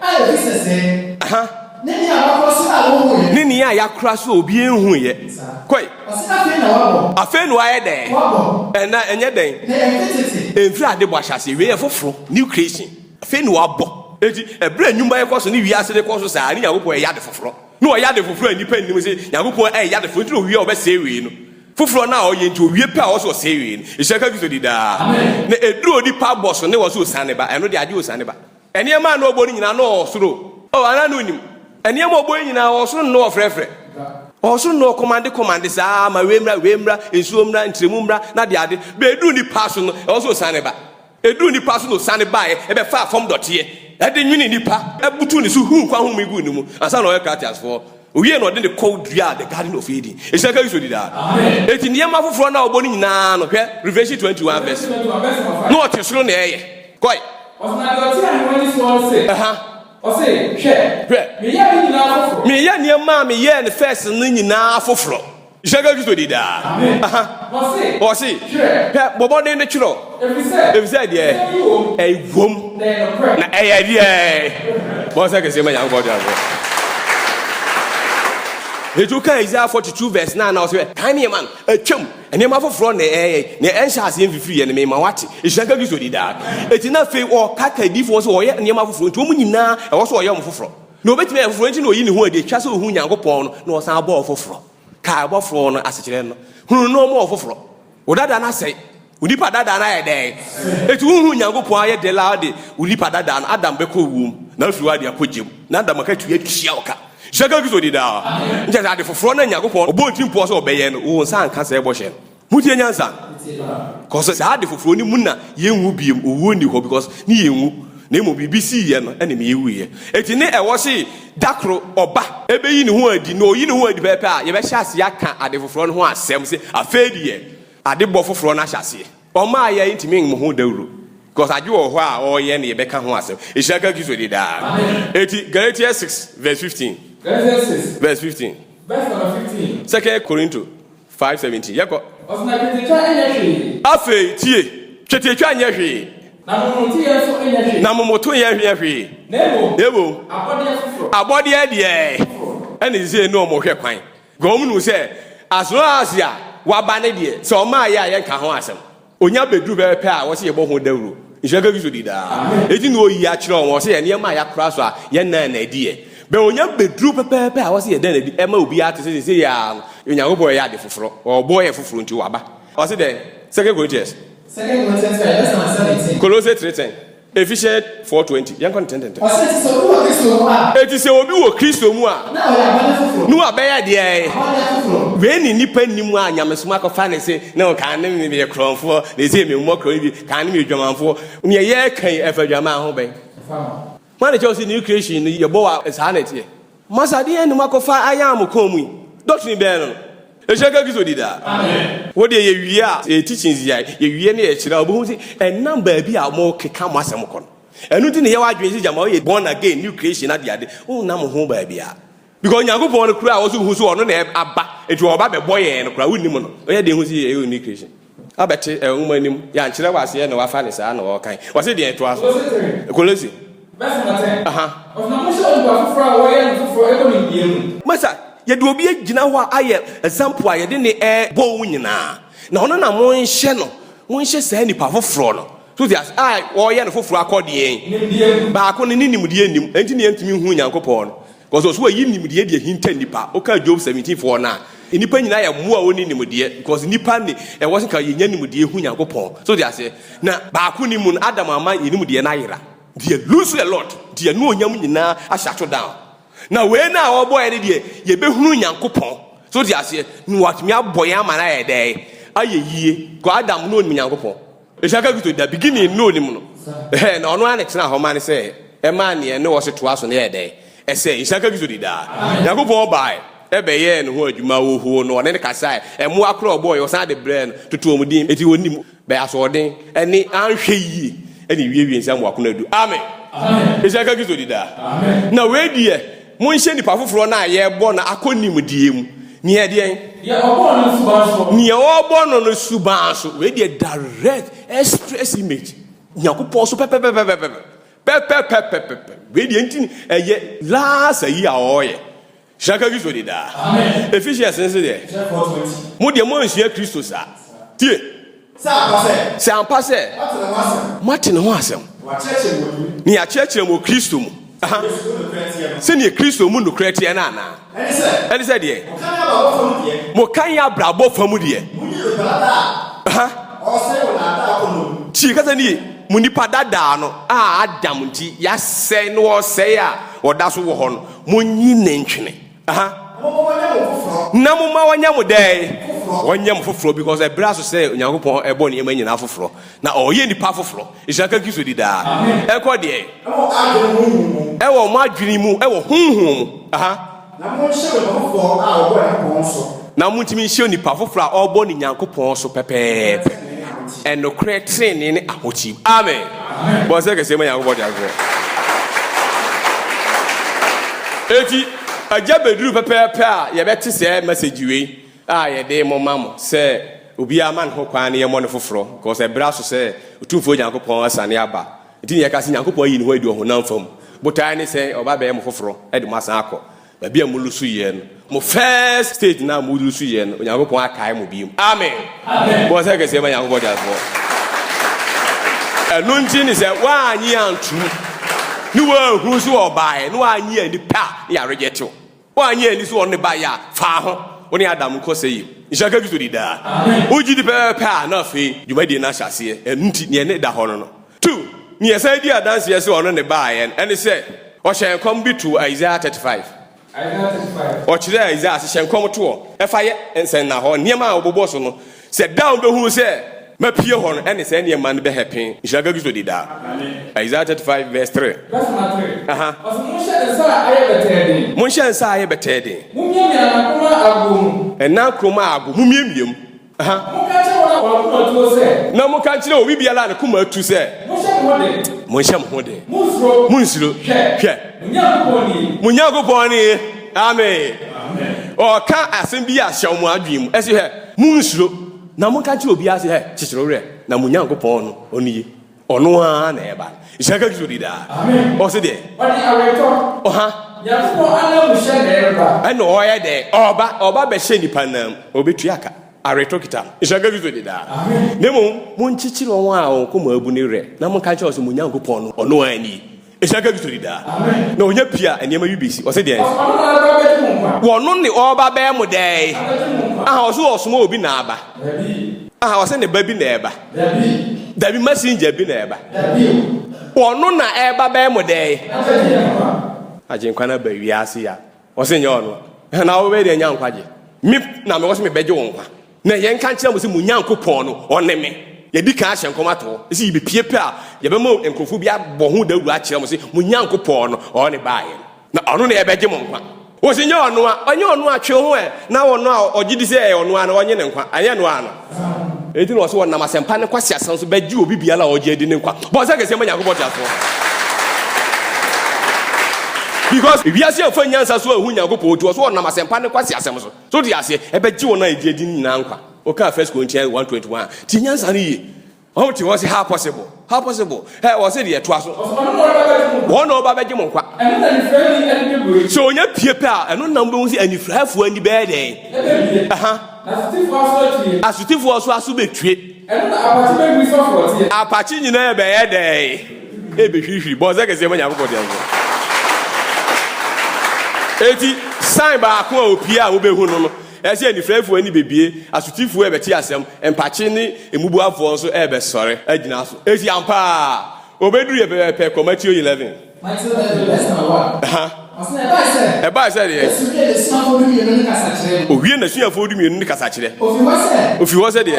A efi sɛsɛɛ. Aha. Ne nea wɔakora so a wɔnhuiɛ. Ne nea yɛakora so a obiara nhuiɛ. Saa. Kɔe. Ɔse na afei na wabɔ. Afei na wayɛ dɛn? Wabɔ. Ɛna ɛnyɛ dɛn? Na ɛmfe tete. Ɛmfiri ade bɔ ahyɛaseɛ, wei yɛ foforɔ, new creation. Afei na wabɔ. Enti, ɛberɛ a nnwuma rekɔ so ne wiase rekɔ so saa, ne Nyankopɔn reyɛ ade foforɔ. Na wayɛ ade foforɔ a nnipa nnim sɛ Nyankopɔn reyɛ ade foforɔ, enti na ɔwie a ɔbɛsɛe wei no. Foforɔ no a ɔyɛ nti, ɔwie pɛ a ɔwɔ sɛ ɔsɛe wei no. Nhyira nka Kristo di daa. Amen. Na ɛduru onipa bɔ so ne wɔ sɛ ɔsiane ba, ɛno deɛ agye ɔsiane ba. Nneɛma a na ɔbɔ no nyinaa, na ɔwɔ soro o. O, anaa na onnim? Nneɛma a ɔbɔ yi nyinaa, ɔwɔ soro na na ɔfrɛfrɛ. Ɔwɔ soro na ɔkɔmande kɔmande saa ma wei mmra, wei mmra, nsuo mmra, ntrɛmu mmra, na ade ade. Bɛ ɛduru nnipa so no, ɛwɔ sɛ ɔsiane ba. Ɛduru nnipa so na ɔsiane baeɛ, ɛbɛfaa fam dɔteɛ, ɛde nwenee nnipa, butuu ne so, huu nkwa home guu ne mu, ansa na ɔyɛ Cratiasfoɔ. Owiei no, ɔde ne kɔw duaa The Garden of Eden. Nhyira nka Kristo di daa. Enti nneɛma foforɔ no a ɔbɔ no nyinaa no, hwɛ Revelation 21 vs. Na ɔte soro na ɛyɛ. Kɔe. Ɔtenaa deɛ ɔte ahengua no soɔ no se. Ɛha. Ɔse, Hwɛ. Hwɛ. Meyɛɛ ne nyinaa foforɔ. Meyɛ nneɛma a meyɛɛ no first no nyinaa foforɔ. Hyɛ ka Kristo di daa. Wɔ se, hwɛ, bɔ mmɔden no twerɛ, ɛfiri sɛ deɛ ɛwom na ɛyɛ deɛ bɔ sɛ kɛseɛ ma Nyankopɔn de aso. Ɛtu ka Isaiah 42 verse 9 na ɔsɛ kan nneɛma no atwam nneɛma foforɔ na ɛyɛ na ɛnhyɛ aseɛ mfifiri yɛ no mema wate ɛhyira ka Kristo di daa. Ɛti na afei ɔka ka adiifoɔ sɛ ɔyɛ nneɛma foforɔ nti wɔn nyinaa ɛwɔ sɛ ɔyɛ wɔn foforɔ. Na obetumi ayɛ foforo, enti na oyi ne ho adi. Etwa sɛ ohu Nyankopɔn no na ɔsan bɔɔ foforo. Kae ɔbɔfo no asekyerɛ no. Hunu no ɔbɔɔ foforo. Wo dada no asɛe. Wo nipa dada no ayɛ dɛn? Enti wonhu Nyankopɔn ayɛ dɛ la ɔde wo nipa dada no, Adam, bɛkɔ owu mu, na afi hɔ ade akɔ gya mu. Na Adam akatua atua wo ka. Nhyira nka Kristo daa. Nkyɛ sɛ ade foforo na Nyankopɔn ɔbɔɔ ne tirimpɔw sɛ ɔbɛyɛ no, wo nsa anka saa bɔhyɛ no. Motie nyansa cause saa ade foforɔ no mu na yɛnwu biom owuo nni hɔ because ne yɛnwu na mmom biribi sii yɛ no ɛne me yɛwuiɛ ɛti ne ɛwɔ se dakoro ɔba ɛbɛyi ne ho adi na ɔyi ne ho adi pɛpɛ a yɛbɛhyɛ aseɛ aka ade foforɔ no ho asɛm se afei deɛ ade bɔ foforɔ no ahyɛ aseɛ ɔmaa yɛ nti me ho dawuro because ade wɔ hɔ a ɔyɛ no yɛbɛka ho asɛm ɛhyira ka Kristo de daa ɛti Galatians 6 verse 15 Galatians 6 verse 15 verse number 15 second Korinto Five seventeen, yɛkɔ. Ɔse na twetiatwa nyɛ hwee. Afei tie, twetiatwa nyɛ hwee. Na momotoyɛ nso nyɛ hwee. Na momotoyɛ nyɛ hwee. Na mmom. Na mmom. Abɔdeɛ foforɔ. Abɔdeɛ deɛ. Foforɔ. Ɛna seisei ne wɔn hwɛ kwan. Because wɔn nim sɛ, as long as a, waba ne deɛ, sɛ ɔmmaeɛ a yɛnka ho asɛm. Onya bɛduru bɛyɛ pɛ a, wɔse yɛbɔ ho dawuro. Nhyira ka Kristo din daa. Enti na ɔyi akyerɛ wɔn, ɔse yɛ nneɛma a yɛakora so a yɛnna nna adi yɛ. Bɛ onya bɛduru pɛpɛɛpɛ a, ɔse yɛda nna adi. Ɛma obiara te sɛ seesei yi ara no, Onyankopɔn reyɛ ade foforo. Ɔbɔɔ yɛn foforo nti, waba. Ɔse dɛn? Second Corinthians. Second Corinthians three, yɛbɛsan asɛm no tee. Kolose three ten. Efehyɛ four twenty. Yɛn kɔ ne tɛntɛntɛn. Ɔsɛ ti sɛ obi wɔ Kristo mu a. Eti sɛ obi wɔ Kristo mu a. Na ɔyɛ abɔde foforo. Na wabɛyɛ deɛ. Abɔde foforo. Wei ne nipa nni mu a nyamesom akɔfa ne se ne ho kan ne meyɛ korɔnfoɔ na esei me mmɔ korɔn bi kan ne meyɛ dwamanfoɔ. Neɛ yɛɛka yi ɛfa dwaman ho bɛn? Ɛfa ho. Hwan na ɛkyɛw sɛ new creation no yɛbɔ wɔ saa na ɛteɛ? Masa deɛ num akɔfa ayaan mo kɔn mu yi, doctrine bɛɛ no no, ɛhyira nka Kristo di daa. Amen. Wodeɛ yɛwie a, yɛ teachings yi a yɛwie no yɛkyerɛ a, wobɛhu sɛ ɛnam baabi a wɔkeka mo asɛm kɔ no. Ɛno nti na yɛ w'adwene sɛ gyama woyɛ born again, new creation adeade, wonnam ho baabiara. Because Nyankopɔn no koraa a wɔso hu so ɔno na aba, nti ɔba bɛbɔ yɛn no koraa wonnim no, ɔyɛ den hu sɛ yɛyɛ new creation. Abɛte ɛɛ nwoma nim. Yɛankyerɛ wo aseɛ na woafa no saa na wɔrekan. Wɔse deɛn? Toa so. Kolose. Verse number ten. Aha. Ɔse na monhyɛ onipa foforɔ a wɔyɛ no foforɔ ɛwɔ nimdeɛ mu. Masa, yɛde obi agyina hɔ a ayɛ example a yɛde no ɛɛbɔ wo nyinaa. Na ɔno na monhyɛ no, monhyɛ saa nipa foforɔ no, so wote aseɛ, a wɔreyɛ no foforɔ akɔ deɛn? Nimdeɛ mu. Baako no ne nimdeɛ nnim, ɛnti na yɛntumi nhuu Nyankopɔn no. Because ɔse wayi nimdeɛ de ahinta nnipa. Woka Job 17 foɔ no a, nnipa nyinaa yɛ mmoa a wɔnni nimdeɛ because nnipa ne ɛwɔ se nka yɛnya nimdeɛ hu Nyankopɔn. So wote aseɛ? Na baako nni mu no, Adam ama yɛn nimdeɛ no ayera. Nti yɛ lose a lot. Nti yɛn anuonyam nyinaa ahyɛato down. Na wei no a wɔbɔ yɛn no deɛ, yɛbɛhunu Nyankopɔn. So wote aseɛ? Na watumi abɔ yɛn ama no ayɛ dɛn? Ayɛ yie. Because Adam no ɔnnim Nyankopɔn. Esia ka kuto da beginning no nim no hɛ na ɔno ane tena hɔ ma ne sɛ ɛma neɛ ɛne ɔse toa so no yɛ dɛn ɛsɛ Esia ka kuto di daa Nyankopɔn bae ɛbɛ yɛɛ ne ho adwuma wɔ huo no ɔne no kasaɛ ɛmoa korɔ ɔbɔɔ yɛ ɔsan de brɛɛ no toto wɔn din enti ɔnim bɛ asoɔden ɛne anhwɛ yie ɛne ɛwie wie nsa mu akono adu Amen Esia ka kuto di daa na wei deɛ Monhyɛ nipa foforɔ no a yɛrebɔ no akɔ nimdeɛ mu. Nea ɛdeɛn? Deɛ ɔbɔɔ no no suban soɔ. Nea ɔrebɔ no no suban so. Wei deɛ direct express image. Nyankopɔn so pɛpɛpɛpɛpɛpɛ. Pɛpɛpɛpɛpɛpɛ. Wei deɛ nti no ɛyɛ last ayi a ɔreyɛ. Hyira nka Kristo de daa. Ephesians no nso deɛ, Mo deɛ moansua Kristo saa. Tie! Sɛ ampa sɛ moate ne ho asɛm, ne yɛakyerɛkyerɛ wɔ Kristo mu, sɛdeɛ Kristo mu nokorɛ teɛ no anaa? Ɛne sɛ deɛ, moka yɛ abrabɔ fa mu deɛ, tie kasa no yie, mo nipa dadaa no a Adam nti yɛasɛe no ɔsɛe a ɔda so wɔ hɔ no, monyi ne ntwene. aha na moma wɔnyɛ mo dɛn wɔnyɛ mo foforɔ because ɛberɛ aso sɛ onyankopɔn ɛbɔ nneɛma nyinaa foforɔ na ɔyɛ nnipa foforɔ nhyira ka kristo di daa ɛkɔ deɛ ɛwɔ mo adwene mu ɛwɔ honhom mu aha na montumi nhyɛ onipa foforɔ a ɔrebɔ ne Nyankopɔn so pɛpɛɛpɛ ɛnokorɛ trenee ne ahotew. Amen. Bɔ nsɛ kɛseɛ ma Nyankopɔn de akorɛ. Eti agya bɛduru pɛpɛɛpɛ a yɛbɛte sɛ message wei a yɛde mo ma mo sɛ obiara ma ne ho kwan na yɛmmɔ no foforɔ because ɛbrɛ aso sɛ Otumfoɔ Nyankopɔn asane aba. Nti na yɛka sɛ Nyankopɔn ayi ne ho adi ɔhonam fam. Botaeɛ ne sɛ ɔba bɛyɛ mo foforɔ de mo asan akɔ Baabi a mo lusu yɛ no, mo first stage na mo lusu yɛ no, Onyankopɔn akae mo bio. Amen. Bɔ sɛ kɛseɛ ma Nyankopɔn de asoɔ. Ɛno nti ne sɛ woanyi antum ne woanhunu so ɔbaeɛ ne woanyi ani pɛ a ne yɛaregyɛ tew. Woanyi ani so ɔne baeɛ a faa ho wo ne Adam nkɔ sɛ yie. Nhyira ka Kristo di daa. Wogye di pɛpɛpɛ a na afei dwumadie no ahyɛ aseɛ. Ɛno nti neɛ ne da hɔ no no. 2 na yɛsan di adanseɛ sɛ ɔno ne baaɛ no, ɛne sɛ, ɔhyɛɛ nkɔm de too Isaiah 35. Isaiah 35. Ɔkyerɛɛ Isaiah ase hyɛ nkɔm toɔ ɛfa yɛ nsɛnnahɔ, nneɛma a wɔbobɔ so no, sɛ da a wɔbɛhunu sɛ mapue hɔ no ɛne sɛ nneɛma no bɛhɛpe. Nhyira nka Kristo di daa. Amen. Isaiah 35 verse 3. Verse number 3. Aha. Ɔse monhyɛ nsa a ayɛ bɛtɛɛ den. Monhyɛ nsa a ayɛ bɛtɛɛ den. Mommiamia nna koro ma agoɔ mu. Nna koro ma agoɔ, mommiamia mu. Aha. Monka nkyerɛ wɔn a wɔn akoma atuo sɛ. Na monka nkyerɛ obi biara a ne koma atu sɛ. Monhyɛ mo ho den. Monhyɛ mo ho den. Monnsuro. Monnsuro. Hwɛ. Hwɛ. Mo Nyankopɔn nie. Mo Nyankopɔn nie. Amen. Amen. Ɔreka asɛm bi a hyɛ wɔn adwene mu. Ɛse hwɛ, monnsuro. Na monka nkyerɛ obiara se hwɛ, kyekyere wo werɛ, na mo Nyankopɔn no, ɔno nie. Ɔno ara na ɛba. Nhyira nka Kristo di daa. Ɔse deɛ. Ɔde aweretɔ. Ɔha. Nyankopɔn anamu hyɛ na ɛreba. Ɛna ɔyɛ dɛ ɔba ɔba bɛhyɛ nipa nam ɔbɛtua ka. Aweretɔ kita no. Nhyira nka Kristo di daa. Na mmom monkyekyere wɔn a wɔn koma abu ne werɛ na monka nkyerɛ wɔn sɛ mo Nyankopɔn no ɔno ara nie. Ehyira ka Kristo di daa. Na onya pii a nneɛma wi besi. Ɔse deɛ. Wɔno ne ɔba bɛɛ mo dɛɛ. Aha ɔse ɔsoma obi na aba. Aha ɔse ne ba bi na ɛba. Dabi messenger bi na ɛba. Wɔno na ɛba bɛɛ mo dɛɛ. Agyenkwa na ba wiase ya. Ɔse nyɛ ɔno na wobɛyɛ deɛ nya nkwagye. Me na mewɔ se mebɛgye wo nkwa. Na yɛn ka nkyerɛ mo se mo Nyankopɔn no ɔne me. Yɛdi kan ahyɛ nkɔm ato hɔ se yebepue pɛ a yɛbɛma nkurɔfoɔ bi abɔ ho dawuro akyerɛ mo se mo Nyankopɔn no ɔne baa yɛn na ɔno na ɛbɛgye mo nkwa. Ɔse nyɛ ɔno a, ɔnyɛ ɔno a, twe wo ho ɛ na ɔno a ɔgyedi sɛ ɛyɛ ɔno a no ɔnye ne nkwa, anyɛ no a no. Enti na ɔsɛ wɔnam asɛmpa ne nkwaseasɛm so bɛgye obi biara a ɔgye adi ne nkwa. Bɔ nsɛ kɛseɛ ma Nyankopɔn teasefoɔ. Because ewiase amfa nyansa so anhu Nyankopɔn nti ɔsɛ wɔnam asɛmpa ne nkwaseasɛm so. So wote aseɛ? Ɛbɛgye wɔn a ɛgye adi no nyinaa nkwa. Wokaa First Corinthians 1:21 a, tie nyansa no yie. Ɔmo te hɔ se how possible how possible ɛ ɔse deɛ ɛtoa so. Wɔn na ɔba bɛgye mo nkwa. Sɛ ɔnya pie pɛ a ɛno na mobɛhu sɛ anifuraeɛfoɔ ani bɛyɛ dɛn. Aha. Asotifoɔ so aso bɛtue. Apakye nyinaa bɛyɛ dɛn. Ɛbɛhwirihwiri bɔn sɛ kɛseɛ ma Nyankopɔn deɛ nso. Eti sign baako a opie a wobɛhu no no Ɛsɛ sɛ anifuraefo ani bebue, asotifo rebɛte asɛm, mpakye ne mmubuafo nso rebɛsɔre agyina so. Esi ampa a, obeduru yɛn pɛpɛɛpɛ kɔ Mateo eleven. Ɛbae sɛ deɛ. Owiee n'asuafoɔ dumienu no kasakyerɛ. Ofi hɔ sɛ deɛ.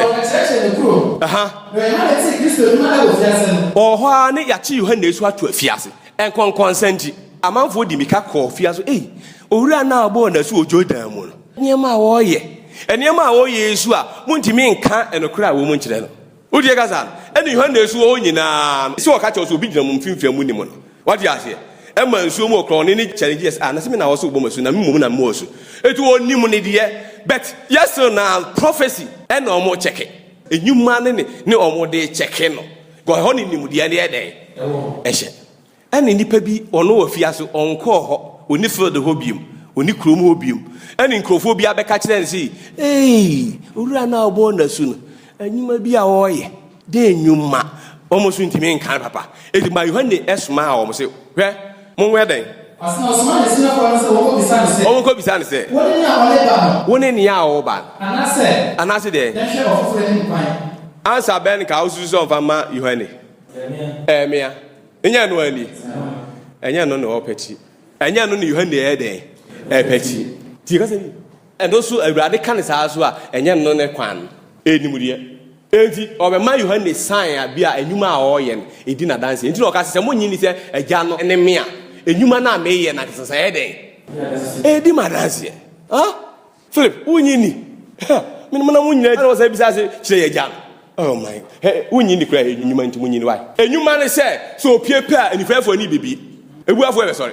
Ɔwɔ hɔ ara ne yɛakye Yohane asu ato afiase. Nkɔnkɔnsa nti, amanfoɔ dii mmirika kɔɔ fie aso. Ei, owura no a ɔbɔɔ n'asu wɔ Jordan mu no. Nneɛma a wɔreyɛ, nneɛma a wɔyɛ yi su a montumi nka nokorɛ a ɛwɔ mu nkyerɛ no. Wotie kasa no? Ɛne Yohane su wɔ hɔ nyinaa no. Sɛ wɔka kyerɛ wo sɛ obi gyina mo mfimfini a monnim no. Woate aseɛ? Ɛma nsuo mu ɔkorɔn no ani kyɛre nti yɛ sɛ, ah, na sɛ me na wɔse wobɔ m'asu na me mmom na mebɔɔ asu. Enti wɔnnim no deɛ, but yɛ still na prophecy ɛna wɔrekyɛke. Nnwuma no ne wɔn de rekyɛke no. Kɔ hɔ ne nimdeɛ ne yɛ dɛn? Ɛhyɛ. Ɛne nnipa bi ɔno wɔ fia so ɔnkɔɔ hɔ ɔni field hɔ biom ɔni kurom hɔ biom ɛne nkurɔfoɔ bi abɛka kyerɛ no sei ei owura no a ɔbɔɔ n'asu no anwuma bi a ɔreyɛ dɛ nwuma wɔn so ntumi nka no papa ɛti ma Yohane ɛsomaa wɔn se hwɛ Monwɛ dɛn? Ɔsoma n'asuafoɔ no sɛ wɔnkɔbisa no sɛ. Wɔnkɔbisa no sɛ. Wone nea ɔne ba no? Wone nea ɔwɔ ba no? Anaasɛ. Anaasɛ deɛn? Yɛnhwɛ ɔfoforɔ anim kwan. Ansa bɛn ka wosusu sɛ ɔmfa mma Yohane? Ɛremea. Ɛnyɛ ɛno ara nie? Ɛnyɛ ɛno na ɔrepɛ akyi. Ɛnyɛ ɛno na Yohane ɛyɛ dɛn? Ɛrepɛ akyi. Nti yɛka sɛ ɛno nso Awurade ka no saa nso a, ɛnyɛ ɛno ne kwan no. Ɛnimdeɛ. Enti ɔbɛma Yohane sign a bi a nnwuma a ɔreyɛ no edi no adanse. Enti na ɔka sɛ, Sɛ monnye nni sɛ Agya no ne me a, nnwuma no a mereyɛ no ankasa nso ɛyɛ dɛn? Edi me adanseɛ. Ha? Philip, wonnye nni? Ha! Mene mo na mo nyinaa. Ɛna ɔsan bisaa sɛ, Kyerɛ yɛn Agya no. Oh my. Hɛ, wonnye nni koraa, nnwuma nti monnye nni. Why? Nnwuma ne sɛ, sɛ opue pɛ a, anifuraeɛfoɔ ani bebue, abuafoɔ bɛsɔre.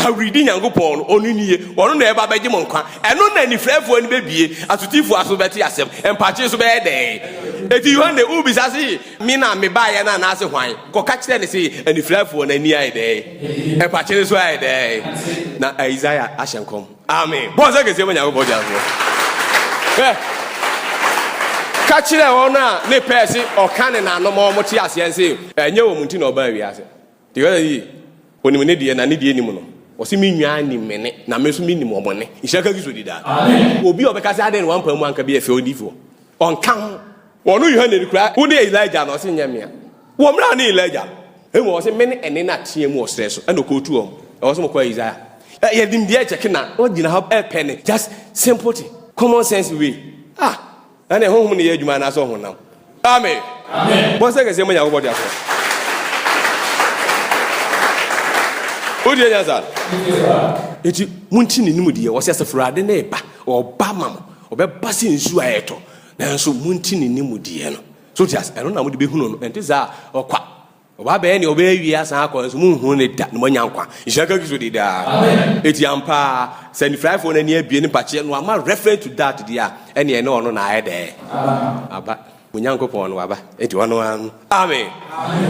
Aweredi Nyankopɔn no, ɔno nie, ɔno na ɛba bɛgye mo nkwa. Ɛno na anifirafoɔ ani bɛbie, asotifoɔ aso bɛte asɛm, mpakye nso bɛyɛ dɛn? Enti Yohane, wobisa se, Me na mebaeɛ no anaase hwan? Kɔka kyerɛ no se, anifirafoɔ no ani ayɛ dɛn? Mpakye no nso ayɛ dɛn? Na Isaiah ahyɛ nkɔm. Amen. Bɔ nsa kɛseɛ ma Nyankopɔn gyafoɔ. Hwɛ, ka kyerɛ wɔn a ne pɛɛ se ɔka ne nanom ma wɔn te aseɛ se, ɛnyɛ wɔn nti na ɔbaa wiase. Yɛhwɛ no yie, Onim ne deɛ na ne deɛ nnim no. Ɔse me nwaa nim me nne, na me nso me nim wɔn nne. Nhyira nka Kristo di daa. Obi a ɔbɛka sɛ adɛn na wampae mu anka bi yɛ fɛ odiyifoɔ? Ɔnka ho. Ɔno Yohane no koraa, wo ne Elijah anaa? Ɔse nyɛ mmea. Wɔ mmerɛ a ɔne Elijah no, mmom ɔse me ne ɛnne no a teɛm wɔ serɛ so, ɛna ɔkɔɔtu wɔn. Ɛwɔ sɛ mokɔ Isaiah. Yɛnim deɛ ɛkyɛke na wogyina hɔ ɛpɛ ne just simple thing, common sense way. Ah! Ɛne honhom ne yɛ adwuma anaasɛ ɔhonam? Amen. Bɔnsɛ kɛseɛ ma Nyankopɔn deɛ akorɔ. Wodie nyansa? Eti monti ne nimu deɛ wɔsɛ Asafurade ne ba ɔba ma mo ɔbɛba sɛ nsuo a ɛtɔ nanso monti ne nimu deɛ no so te ase ɛno na mode bɛhunu no ɛnte saa ɔkwa Ɔba abɛyɛ nea ɔbɛyɛ awie asan akɔ, nanso monhunu no da, na moanya nkwa. Nhyira nka Kristo din daa. Enti ampa ara, sɛ anifuraefoɔ no ani abue ne mpakyeɛ no ama reference to that deɛ a, ɛnneɛ ɛne ɔno na ayɛ dɛɛ? Aba. Mo Nyankopɔn no waba, enti ɔno ara no. Amen.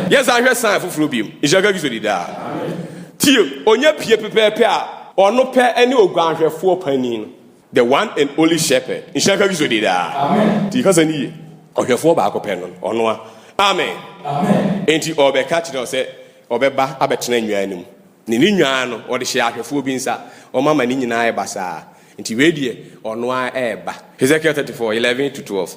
Yɛnsan nhwɛ sign foforɔ bio. Nhyira nka Kristo din daa. Tie, ɔnya pie pɛpɛɛpɛ a, ɔno pɛ ne oguanhwɛfoɔ panin no. the one and only shepherd nhyira nka kristo de daa nti kasa no yie ɔhwɛfoɔ baako pɛ no ɔnoa amen enti ɔbɛka kyerɛ sɛ ɔbɛba abɛtena nnwan no mu ne ne nnwan no ɔde hyɛ ahwɛfoɔ bi nsa ɔma ma ne nyinaa ɛba saa nti wei deɛ ɔnoa ɛɛba Hezekiel 34 11 to 12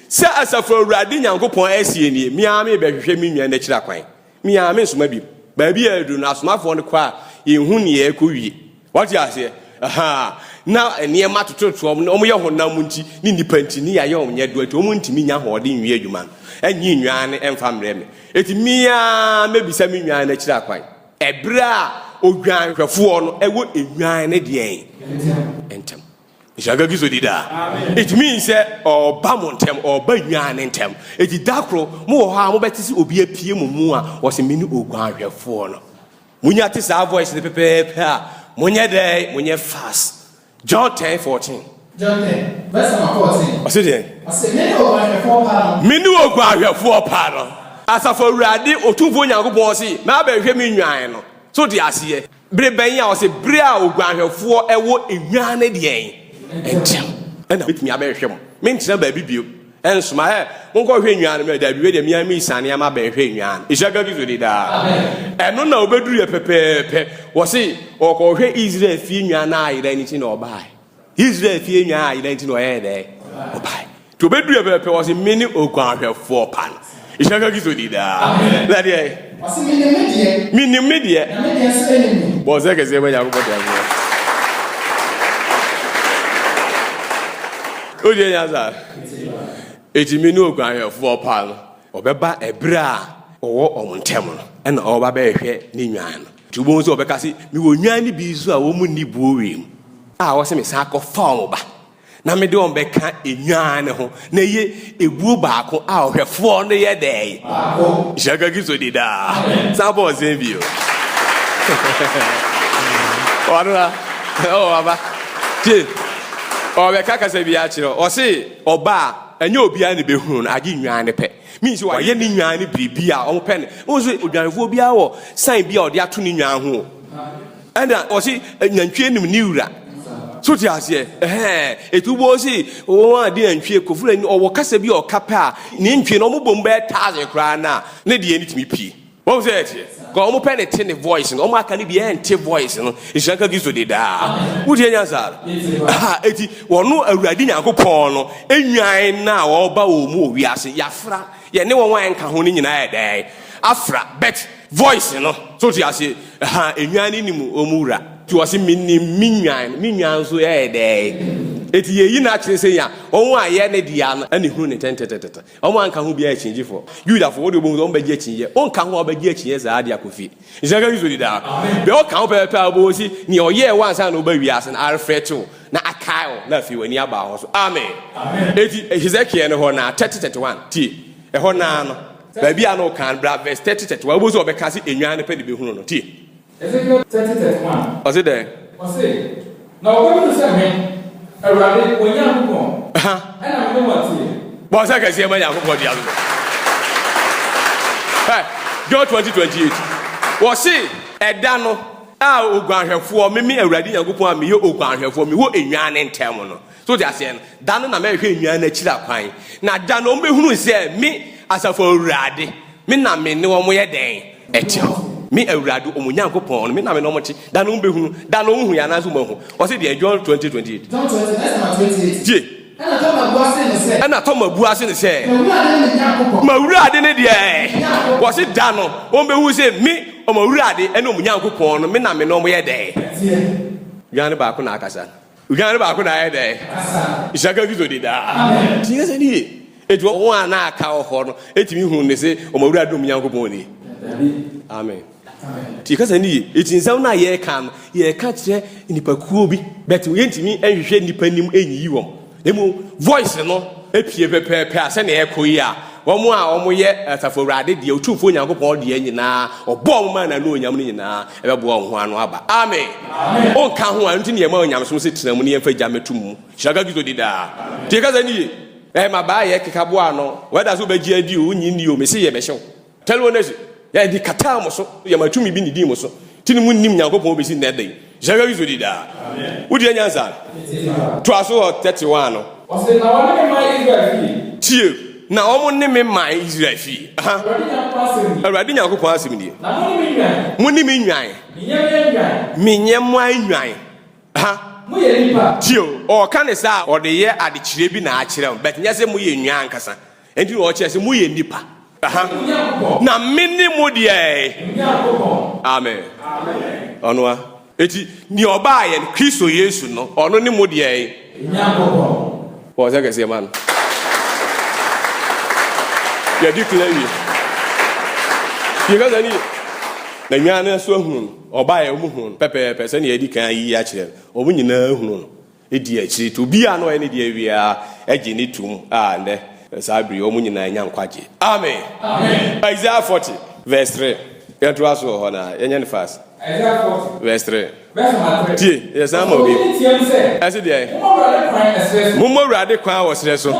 Sɛ Asafo Awurade Nyankopɔn seɛ nie, Me ara merebɛhwehwɛ me nnwan no akyiri akwan, me ara merensoma bio. Baabi a aduru no, asomafoɔ no kɔ a, yɛnhu nea ɛrekɔwie. Woate aseɛ? Ahaa, na nneɛma tototo wɔn, na wɔyɛ honam nti ne nnipa nti, ne yɛayɛ wɔn nyɛdoa nti, wɔntumi nya ahoɔden nwie adwuma no, nnye nnwan no mfa mmrɛ me. Enti me ara mɛbisa me nnwan no akyiri akwan. Ɛberɛ a odwanhwɛfoɔ no wɔ nnwan no deɛn ntɛm. nhyira nka kristo di daa it means sɛ ɔba mo ntɛm ɔba nyaa ne ntɛm ɛti da koro mowɔ hɔ a mobɛte sɛ obi apue mo mu a wɔsɛ me ne oguanhwɛfoɔ no monya te saa voice no pɛpɛɛpɛ a monyɛ dɛn monyɛ fast john 10 14 John 10, verse number 14. ɔse deɛ Ɔse, me ne oguanhwɛfoɔ pa no. me ne oguanhwɛfoɔ pa no asafo awurade otumfoɔ nyankopɔn se mabɛhwɛ me nnwan no so te aseɛ Bere bɛn a? Ɔse bere a oguanhwɛfoɔ wɔ nnwan no deɛn nkyɛn ɛna mɛtumi abɛhwɛ mo, mentena baabi bio nsoma hɛ, monkɔhwɛ nnwan no, mɛ daabi wei deɛ me ara mesiane ama bɛhwɛ nnwan no, nhyira nka Kristo din daa. Ɛno na ɔbɛduruiɛ pɛpɛɛpɛ, ɔse ɔkɔhwɛ Israel fie nnwan no ayera nti na ɔbaaɛ. Israel fie nyaa ayera nti na ɔyɛɛ dɛ ɔbae nti ɔbɛdurɛ pɛpɛpɛ wɔ se mene oguanhwɛfoɔ pa no nhyira nka Kristo di daa na deɛ menim me deɛ bɔ sɛ kɛseɛ ma Nyankopɔn deɛ aseɛ wodeɛ nya saa ɛti mene oguanhwɛfoɔ pa no ɔbɛba ɛberɛ a ɔwɔ ɔmo ntɛm no ɛna ɔba bɛhwɛ ne nwan no Nti wobɛhu sɛ wɔbɛka se, 'Mewɔ nnwan no bi nso a wɔnni buo wiem, a wɔse mesan kɔfa wɔn ba, na mede wɔn bɛka nnwan no ho, na ɛyɛ ebuo baako a ɔhwɛfoɔ no yɛ dɛn? Nhyira nka Kristo din daa. San bɔ nsɛm bio. Ɔno na, oh, aba. Tie, ɔbɛka kasa bi akyerɛ wo. Ɔse, ɔba a, ɛnyɛ obiara na ɛbɛhunu no, agye nnwan no pɛ. Mean sɛ wayɛ ne nwan no biribi a wɔpɛ no. Wohu sɛ odwanfoɔ biara wɔ sign bi a ɔde ato ne nwan ho o. Ɛna wɔse nantwie nim ne wura. So te aseɛ? Ɛhɛɛ. Ɛti wobɔ se wɔn a de nantwie kɔ firi ɔwɔ kasa bi a ɔka pɛ a ne ntwie no wɔbɔ mu bɛyɛ thousand koraa no a ne deɛ no tumi pie. Wɔn sɛ ɛteɛ. Ka wɔn pɛ ne te ne voice no. Wɔn aka ne bi ɛnte voice no. Nhyira nka Kristo de daa. Wotie nyansa. Ha eti wɔn awurade Nyankopɔn no enwan na ɔba wɔn mu owiase. Yafra yɛne wɔn a ɛnka ho ne nyinaa ɛdɛɛ. Afra bet voice no. So ti ase ha enwan ne nim wɔn wura. Ti wɔsi mi nim mi nwan mi nwan so ɛdɛɛ. Eti yɛyi na akyerɛ sɛ ya wɔn a yɛ ne deɛ no ɛne hunu ne tɛntɛtɛtɛtɛ. Wɔn a nka ho biara yɛ akyinnyegyefo. Yudafo, wɔde obohu sɛ wɔn bɛgye akyinnye. Wonka ho a wobɛgye akyinnye saa de akɔ fie. Nhyira nka Kristo di daa. Bia ɔka ho pɛpɛpɛ a wobɛhu si nea ɔyɛɛ wo ansa na woba wiase no arefrɛte wo na akae wo na afei w'ani aba hɔ so. Amen. Enti Hesekiel no hɔ no ara, 30 31, tie, ɛhɔ no ara no, baabi a na ɔka no, bra vs 30 31, wobɛhu sɛ ɔbɛka se nnwan no pɛ na ebehunu no. Tie. Ezekiel thirty thirty one. Ɔse dɛn? Ɔse, Na wɔbɛhunu sɛ me, Awurade, wɔn Nyankopɔn, ɛna me ne wɔn teɛ. Bɔ nsa kɛseɛ ma Nyankopɔn de ato dwa. Hɛ, John twenty twenty eight. Ɔse, Ɛda no a oguanhwɛfoɔ, me me Awurade Nyankopɔn a meyɛ oguanhwɛfoɔ, mewɔ nnwan ne ntɛm no, So wote aseɛ no? Da no na mɛhwɛ nnwan no akyiri akwan, na da no wɔbɛhunu sɛ me, Asafo Awurade, me na me ne wɔn yɛ dɛn? Ɛte hɔ. Me Awurade, wɔn Nyankopɔn no, me na me ne wɔn te. Da no wɔbɛhunu. Da no wɔnhuiɛ anaasɛ wɔahu. Ɔse deɛn? John twenty, twenty eight. John twenty, verse number twenty eight. Tie. Ɛna Toma bua se no sɛ. Ɛna Toma bua se no sɛ. M'Awurade ne me Nyankopɔn. M'Awurade ne deɛn? Me Nyankopɔn. Ɔse da no wɔbɛhunu sɛ me, wɔn Awurade, ne wɔn Nyankopɔn no, me na me ne wɔn yɛ dɛn? Teɛ. Nnwan no baako na akasa. Odwan no baako na ayɛ dɛ. Nhyira ka Kristo de daa. Tiɛ sɛ ni ye. Eti wɔn a na aka wɔ hɔ no etumi hun ne se wɔn awura dom Nyankopɔn ni. Amen. Ti yɛka sɛ ni ye. Eti nsɛm no a yɛka no yɛka kyerɛ nipakuo bi bɛte yɛntumi nhwehwɛ nipa nim nyiyi wɔn. Emu voice no epie pɛpɛɛpɛ a sɛnea ɛkɔ yi a Wɔn a wɔyɛ Asafo Awurade deɛ, Otumfoɔ Nyankopɔn deɛ nyinaa, Ɔbɔɔ wɔn maa N'anuonyam no nyinaa bɛboa wɔn ho ano aba. Amen! Wonka ho a, ɛno nti na yɛma onyamesom sɛ tena mu na yɛmfa gya mmɛto mu. Hyira nka Kristo di daa! Tie kasa no yie. Ɛɛ, mmabaa yɛ kekaboa no. Whether sɛ wobɛgye adi o, wonnye nni o, mese yɛbɛhyɛ wo. Tell wo nurse. Yɛde kataa mo so, yɛma tumi bi nidii mo so, nti ne monnim Nyankopɔn bɛsi nnɛ da yi. Hyɛ hwɛ Yesu di daa. Wodeɛ nya nsa no. Toa so wɔ 31 no. Ɔse, Na wɔne me mae Israel fie. Tie, na wɔn ne me mae Israel fie. Aha. Awurade Nyankopɔn asɛm nie. Awurade Nyankopɔn asɛm nie. Na mone me nnwan. Mone me nnwan. Menyɛmoa nnwan. Menyɛmoa nnwan. Aha. Moyɛ nnipa. Tie o, ɔɔka ne saa a, ɔde yɛ adekyerɛ bi na akyerɛ wɔn, but nyɛ sɛ moyɛ nnwan ankasa. Enti na ɔkyerɛ sɛ moyɛ nnipa. Na me ne mo deɛ. Amen. Ɔno a. Eti nea ɔbaa yɛn Kristo Yesu no, ɔno ne mo deɛ. Wɔn sɛ kɛseɛ ma no. Yɛdi kila wie. Yɛka sɛ ni. Na nyaa no nso ahunu no. Ɔbaa yɛ wɔn hunu no pɛpɛɛpɛ sɛnea yɛdi kan ayi akyerɛ no. Wɔn nyinaa hunu no. Di akyiri to obiara na ɔyɛ ne deɛ awie ara gye no tom a ɛnnɛ saa bere yi wɔn nyinaa anya nkwagye. Amen. Isaiah forty verse three. Yɛntoa so wɔ hɔ na yɛnyɛ no fast. Isaiah forty verse three. Tie, yɛsan ma obi. Ɛse deɛ, mommɔ Awurade kwan wɔ serɛ so.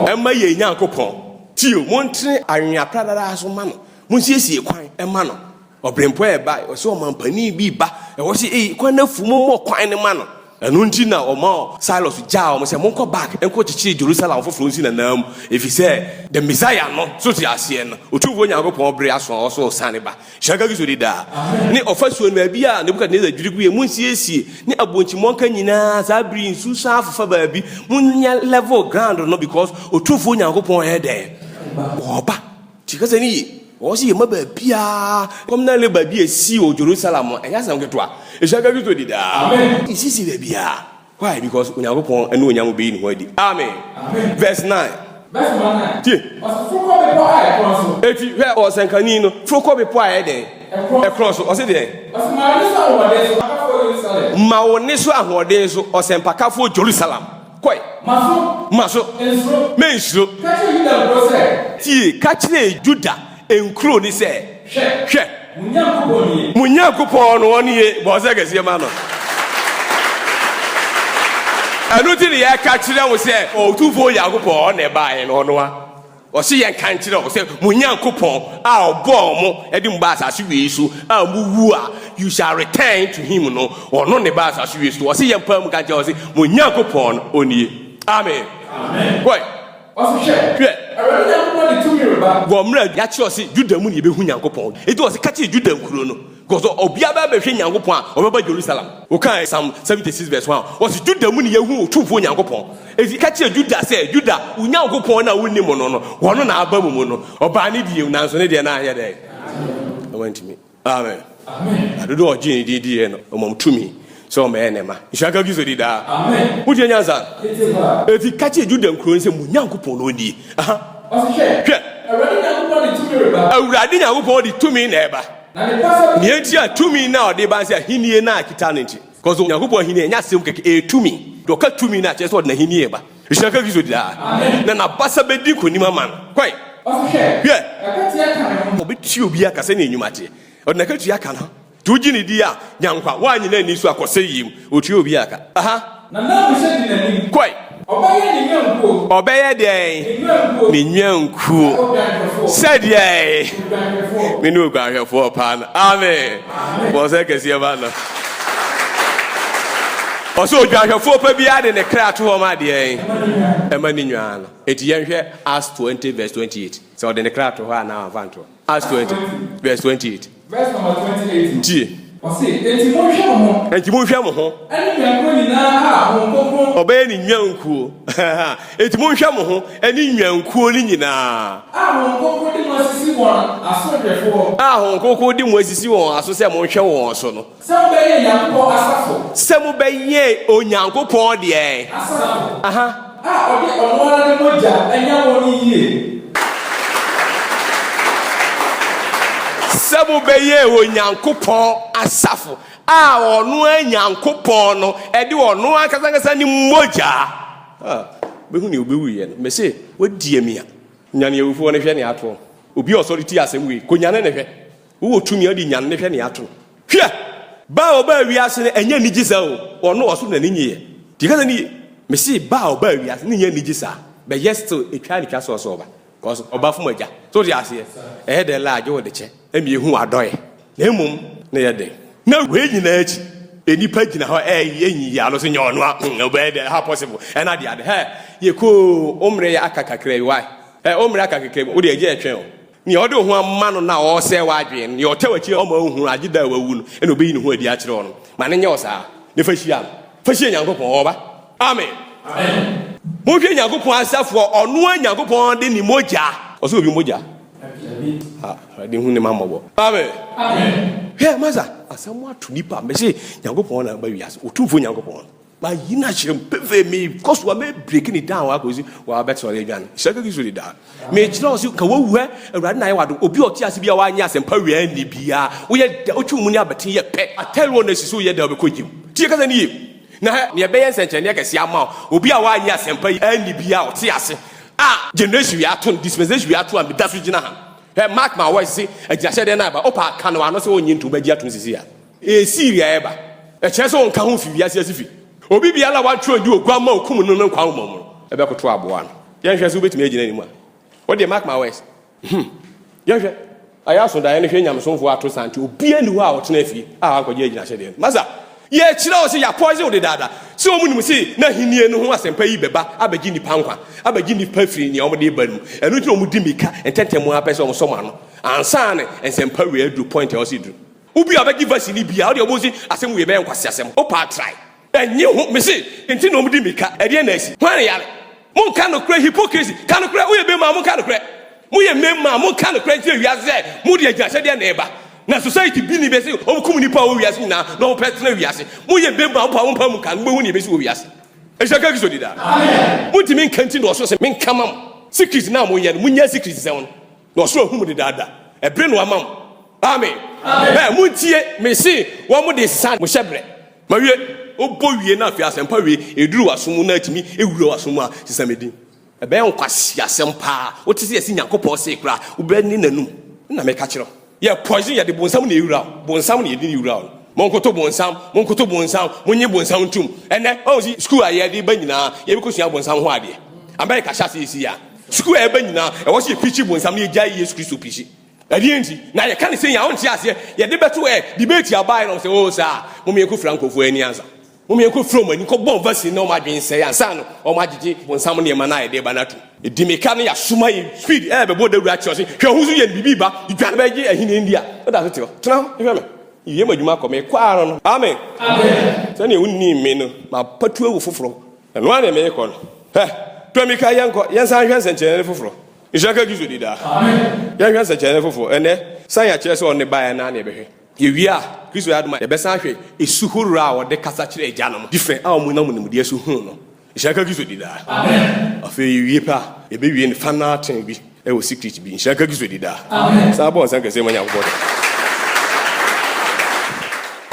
Ɛma yɛn Nyankopɔn. Tie o, montene anwea pradada so ma no. Monsiesie kwan ma no. Ɔberempɔn a ɛbae, ɔsɛ ɔmampanin bi ba, na wɔse, Ei, kwan no afu, mommɔ kwan no ma no. Ɛno nti na ɔma Silas gyaa wɔn sɛ, Monkɔ back nkɔkyekyere Jerusalem foforo nsi n'ananmu, efisɛ the Messiah no, so te aseɛ no, Otumfoɔ Nyankopɔn bere aso a ɔsoro sane ba, Shaka Gizo de daa, ne ɔfasuo no, baabi a Nebukadnesar dwiri guiɛ, monsiesie, ne abonti mmɔnka nyinaa, saa bere yi, nsu san afofa baabi, monyɛ level ground no, because Otumfoɔ Nyankopɔn ɛyɛ dɛn? Ɔreba. Tie kasa no yie. Ɛwɔ sɛ yɛma baabiara communal labor bi a ɛsii wɔ Jerusalem no, ɛnyɛ asɛm ketewa. Ɛhyia ka Kristo di daa. Ɛnsisi baabiara. Why? Because Onyankopɔn anuonyam bɛyi ne ho adi. Amen. Verse nine. Tie! Enti, hwɛ, ɔsɛnkani no foro kɔ bepɔ a ɛyɛ dɛn? Ɛkorɔn so. Ɔse deɛn? Ma wo nne so ahoɔden so, ɔsɛmpakafoɔ Jerusalem. Kɔe. Ma so. Ma so. Nsuro. Mennsuro. Ka kyerɛ Yuda nkuro sɛ. Tie, ka kyerɛ Yuda nkuro no sɛ. Hwɛ. Hwɛ. Mo Nyankopɔn nie. Mo Nyankopɔn no, ɔno nie. Bɔ ɔsɛ kɛseɛ ma no. Ɛno nti na yɛka kyerɛ wo sɛ, Otumfoɔ Nyankopɔn, ɔno na ɛbaeɛ no, ɔno ara. Ɔse yɛnka nkyerɛ wɔn sɛ, Mo Nyankopɔn a ɔbɔɔ mo de mo baa asase wei so a mowu a, you shall return to him no, ɔno na ɛbaa asase wei so. Ɔse yɛmpae mu nka nkyerɛ wɔn se, Mo Nyankopɔn no, ɔnie. Amen. Wɔe. Ɔse, Hwɛ! Hwɛ! Awurade Nyankopɔn de tumi reba. Wɔ mmerɛ a yɛakyerɛ ɔse Juda mu na yɛbɛhu Nyankopɔn. Enti ɔse, Ka kyerɛ Juda nkuro no. Because sɛ obiara bɛ bɛhwɛ Nyankopɔn a, ɔbɛba Jerusalem. Wokaa Psalm 76 verse 1 a, ɔse Juda mu ne yɛahu Otumfoɔ Nyankopɔn. Enti ka kyerɛ Juda sɛ, Juda, wo Nyankopɔn no a wonnim no no, ɔno na aba mo mu no. Ɔbaa ne deɛ mu, nanso ne deɛ no anyɛ dɛn? Na wantumi. Amen. Na dodoɔ a ɔgyee ne din diiɛ no, ɔma wɔn tumi sɛ wɔmmɛyɛ ne mma. Nhyira nka Kristo di daa. Wotie nyansa? Enti ka kyerɛ Juda nkuro no sɛ, Mo Nyankopɔn no nie. Aha. Hwɛ! Awurade Nyankopɔn de tumi na ɛreba. Nea enti a tumi no a ɔde ba sɛ ahenni no a ɛkita no nti. Kɔso Onyankopɔn ahenni ɛnyɛ asɛm kɛkɛ, ɛyɛ tumi. Deɛ ɔka tumi no a, kyerɛ sɛ ɔde n'ahenni reba. Nhyira nka Kristo daa. Na n'abasa bɛdi nkonim ama no. Kɔe. Hwɛ! Ɔbɛtua obi aka sɛnea nnwuma teɛ. Ɔde n'akatua aka no. Nti wogye no di a, nya nkwa. Woannyina nni so a, kɔ sɛeɛ mu. Ɔtua obi a ka. Aha. Na na Mose di n'anim. Kɔe. Ɔbɛyɛ ne nnwankuo. Ɔbɛyɛ deɛn? Ne nnwankuo. Ne nnwankuo. Sɛ odwanhwɛfoɔ. Sɛ deɛn? Odwanhwɛfoɔ. Me ne odwanhwɛfoɔ paa no. Amen. Amen. Bɔ nsɛ kɛseɛ ma no. Ɔsɛ odwanhwɛfoɔ pa biara de ne kra to hɔ ma deɛn? Ɛma ne nnwan no. Eti yɛnhwɛ Acts 20 verse 28. Sɛ ɔde ne kra to hɔ a na anfa ntoɔ. Acts 20 verse 28. Tie. Enti monhwɛ mo ho. Ɔbɛyɛ ne nnwankuo. Enti monhwɛ mo ho ne nnwankuo no nyinaa. A Honhom Kronkron de mo asisi wɔn aso sɛ monhwɛ wɔn so no. Sɛ mobɛyɛɛ Nyankopɔn asafo. Sɛ mobɛyɛɛ Onyankopɔn deɛ. Asafo. Aha. A ɔde ɔno ara ne mogya anya wɔn no yie. Sɛ mobɛyɛɛ Onyankopɔn asafo. A ɔno ara Nyankopɔn no de ɔno ankasa ankasa ne mogya. A, bɛhu nea ɔbɛwuiɛ no. Mese, wɔadie me a. Nyane awufoɔ no hwɛ nea ato. Obi a ɔsɔre tie asɛm wei, kɔnyane no hwɛ. Wowɔ tumi a ɔde nyan ne hwɛ ne ato no. Hwɛ! Ba a ɔbaa wiase no ɛnyɛ anigye saa o, ɔno ɔsoro na ne nyeyɛ. Nti kasa no yie. Mese ba a ɔbaa wiase no nyɛ anigye saa, but yet still ɛtwa ne twa sɛ ɔsɛ ɔba, cos ɔba fom agya. So wote aseɛ? Ɛyɛ dɛn la agye wo de kyɛ ɛma yɛhu w'adɔeɛ na mmom na ɛyɛ dɛn? Na wei nyinaa akyi nnipa gyina hɔ ɛyɛ nyiyi ano sɛ nyɛ ɔno a hmm ɛbɛyɛ dɛn how possible ɛna ade ade hɛ yɛkoo wo mmerɛ aka kakra bi why hɛ wo mmerɛ aka kakra bi wode agya ɛtwɛn o. Nea ɔde wo ho ama no no a ɔresɛe w'adwene no, nea ɔtwa w'akyi a ɔmma wunhu no, agye da a wawu no na obeyi ne ho adi akyerɛ wo no, ma no nyɛ wo saa, na fa hyia no. Fa hyia Nyankopɔn. Ɔreba. Amen. Monhwɛ Nyankopɔn asafo a ɔno ara Nyankopɔn de ne mogya. Ɔsɛ obi mogya? Dabi. Ah, Awurade hu ne mma mmɔbɔ. Amen. Hwɛ, masa, asamoah to nipa, mese Nyankopɔn na aba wiase, Otumfoɔ Nyankopɔn. Mayi no akyerɛ mu pefee, mekɔ so a mɛbreki ne down akɔsi wɔabɛte ɔyɛ dwan. Sɛ kɛkɛ so de daa. Mekyerɛ wo sɛ ka wawu ɛ, Awurade na ayɛ wado. Obi a ɔte ase bi a wanyɛ asɛmpa wia nni bia. Woyɛ dɛ, wotwe mu ne abɛte yɛ pɛ. Atɛre wɔ na si so woyɛ dɛ wobɛkɔ gyem. Tie kasa no yie. Na hɛ, nea ɛbɛyɛ nsɛnkyerɛnneɛ kɛseɛ ama wo, obi a wanyɛ asɛmpa yi anni bia a ɔte ase a generation wia ato no, dispensation wia ato a meda so gyina ha. Hɛ, mark my words se agyinahyɛdeɛ no aba. Wopɛ a, ka no w'ano sɛ wonnye ntom, agye atom seesei a. Esii wiɛ a ɛba. Ɛkyerɛ sɛ wɔnka ho fi wiase atifi. Obi biara a wɔatwerɛ no de Oguammaa a ɔkum no no nkwa ahomɔ mu no bɛkoto aboa no. Yɛnhwɛ sɛ wobɛtumi agyina anim a. Wo deɛ, mark my words. Hum. Yɛnhwɛ. Ayɛ aso daeɛ no, hwɛ nyamesomfoɔ a ato sante, obiara nni hɔ a ɔtena fie a wankɔgye agyinahyɛdeɛ no. Masa, yɛkyerɛ wo sɛ yɛapɔɔse wo dedaada, sɛ wɔnim sɛ n'ahennie no ho asɛmpa yi bɛba abɛgye nnipa nkwa, abɛgye nnipa afiri nea wɔde reba no mu. Ɛno nti na wɔdi mmirika ntɛntɛm ara pɛ sɛ wɔsɔ mo ano ansa na nsɛmpa wei aduru point a ɛwɔ sɛ ɛduru. Obi a ɔbɛgye verse no biaa ɔdeɛ ɔbɔhu se asɛm wei bɛyɛ nkwaseasɛm o paa try ɛnye ho mese nti na ɔmudi mika ɛdeɛn na asi hwan ne yare monka nokorɛ hypocrisy ka nokorɛ woyɛ bɛmaa monka nokorɛ moyɛ mɛmaa monka nokorɛ nkyerɛ wiase sɛ mode agyinahyɛdeɛ na ɛba na society bi ni bɛse ɔmo kum nipa a ɔwɔ wiase nyinaa na ɔmo pɛ tena wiase moyɛ bɛmaa mopaa mompa mu nka mobɛhu ne ɛbɛsi wɔ wiase ɛhyɛ ka kiso deda montimi nka nti na ɔso se menka ma mo secret na moyɛ no monya secret sɛ wɔn Na ɔsoro ahu mo dedaada. Ɛbere no ama mo. Amen. Ɛ, montie, mese, wɔn de san mo hyɛbrɛ. Mawie. Wobɔ wie na afei asɛmpa wie, ɛduru w'aso mu na atumi awura w'aso mu a, sesa me din. Ɛbɛyɛ nkwaseasɛm paa. Wote sɛ yɛse Nyankopɔn see koraa a, wobɛne n'anum. Ɛna meka kyerɛ wo. Yɛ poison, yɛde bonsam na ɛwura wo. Bonsam na yɛde no wura wo. Monkoto bonsam, monkoto bonsam, monye bonsam ntom. Ɛnnɛ, wahu se school a yɛde ba nyinaa, yɛbɛkɔsua bonsam ho adeɛ. America hyɛ aseɛ seesei a. Sukuu a yɛba nyinaa, ɛwɔ sɛ yɛpirikyi bonsam na yɛgyae Yesu Kristo pirikyi. Ɛdeɛn nti? Na yɛka ne sɛ yɛn a wonte aseɛ, yɛde bɛto ɛ, debate abaeɛ na wɔn sɛ, oh saa, mom yɛnkɔfira nkurɔfoɔ ani ansa. Mom yɛnkɔfira wɔn ani, nkɔbɔ vaccine na wɔn adwene nsɛe ansa no wɔn agyegye bonsam nneɛma no a yɛde reba no atom. Di mmirika na yɛasoma yɛn speed ɛrebɛbɔ dawuro akyɛ ɔse, hwɛ ho so yɛ no biribi ba, dwane bɛgye ahennie ndi a, woda so te hɔ, tena hɔ hwɛ me, yɛ m'adwuma kɔ, mekɔ ara no. Amen! Sɛdeɛ wonnim me no, mapatuawu foforɔ. Ɛno ara na merekɔ no. Hɛ! Tomika, yɛnkɔ, yɛnsan nhwɛ nsɛnkyerɛnne foforo. Nhyira nka Kristo di daa. Yɛnhwɛ nsɛnkyerɛnne foforo. Ɛnnɛ, sane a kyerɛ sɛ ɔne baeɛ no ara na yɛbɛhwɛ. Yɛwie a, Kristo yɛ adom a, yɛbɛsan ahwɛ su horoɔ a ɔde kasa kyerɛɛ Agya no mu, different, a wɔnam nimdeɛ so huu no. Nhyira nka Kristo di daa. Afei, yɛwie pɛ a, yɛbɛwie no, fa no ara tee bi. Ɛwɔ secret bi nhyira nka kristo dida. Amen saa bɔ nsa kɛseɛ ma nyankopɔn dɔ.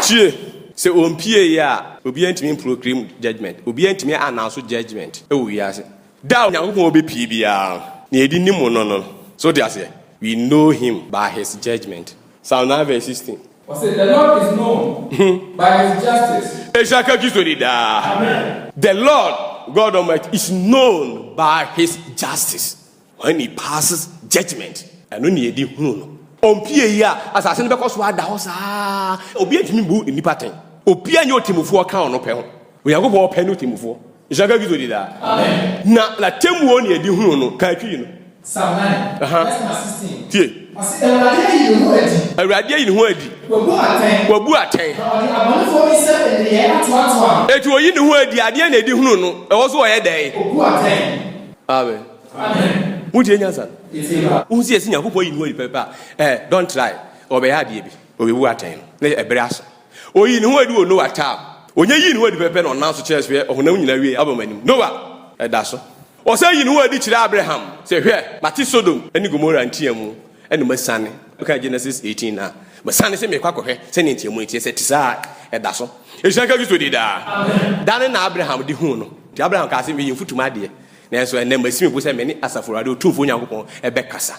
Tie! Sɛ ɔmpie yɛ a obiara ntumi mproclaim judgement obiara ntumi announce judgement wɔ wiase da a onyankopɔn ɔbɛpie biara no na yɛde nim no no no so wote aseɛ we know him by his judgement psalm nine verse sixteen Ɔse the lord is known by his justice. Nhyira nka kristo dida. Amen. The lord God almighty is known by his justice. When he passes judgment. Ɛno na yɛde hunu no. Ɔmpue yi a, asase no bɛkɔ so ada hɔ saa ara. Obiara ntumi mmu nnipa atɛn. Obiara nyɛ ɔtemmufoɔ ka ɔno pɛ ho. Onyankopɔn pɛ ne ɔtemmufoɔ. Nhyira nka Kristo din daa. Na n'atemmuo na yɛde hunu no. Ka akyiri no. Psalm nine, verse number sixteen. Tie. Ɔse, Awurade ayi ne ho adi. Awurade ayi ne ho adi. Wabu atɛn. Wabu atɛn. Na ɔde abɔnefoɔ nsam nneyɛɛ atoatoa no. Enti ɔyi ne ho adi, adeɛ na yɛde hunu no. Ɛwɔ so ɔyɛ dɛn? Ɔbu atɛn. Amen. Wotie nyansa no? Wohu sɛ yɛsɛ Nyankopɔn yi ne hɔ adi pɛpɛpɛ a, eh, don't try. Ɔbɛyɛ adeɛ bi. Ɔbɛbu atɛn no. Ne ɛberɛ aso. Ɔyii ne ho adi wɔ Noah tam. Ɔnya yii ne ho adi pɛpɛpɛ na ɔnam so kyerɛɛ so yɛ ɔhonam nyina awiei aba m'anim. Noah, ɛda so. Ɔsan yii ne ho adi kyerɛɛ Abraham sɛ, Hwɛ, mate Sodom ne Gomora nteamu, ɛna masiane. Wokan Genesis eighteen no a, masiane sɛ merekɔ akɔhwɛ sɛdeɛ nteamu no teɛ. Sɛ ɛte saa a, ɛda so. Ɛhyira nka Kristo din daa. Da no na Abraham de huu no. Enti Abraham kaa sɛ, Meyɛ mfutuma adeɛ, nanso ɛnnɛ masi me bo sɛ me ne Asafo Awurade, Otumfoɔ Onyankopɔn, bɛkasa,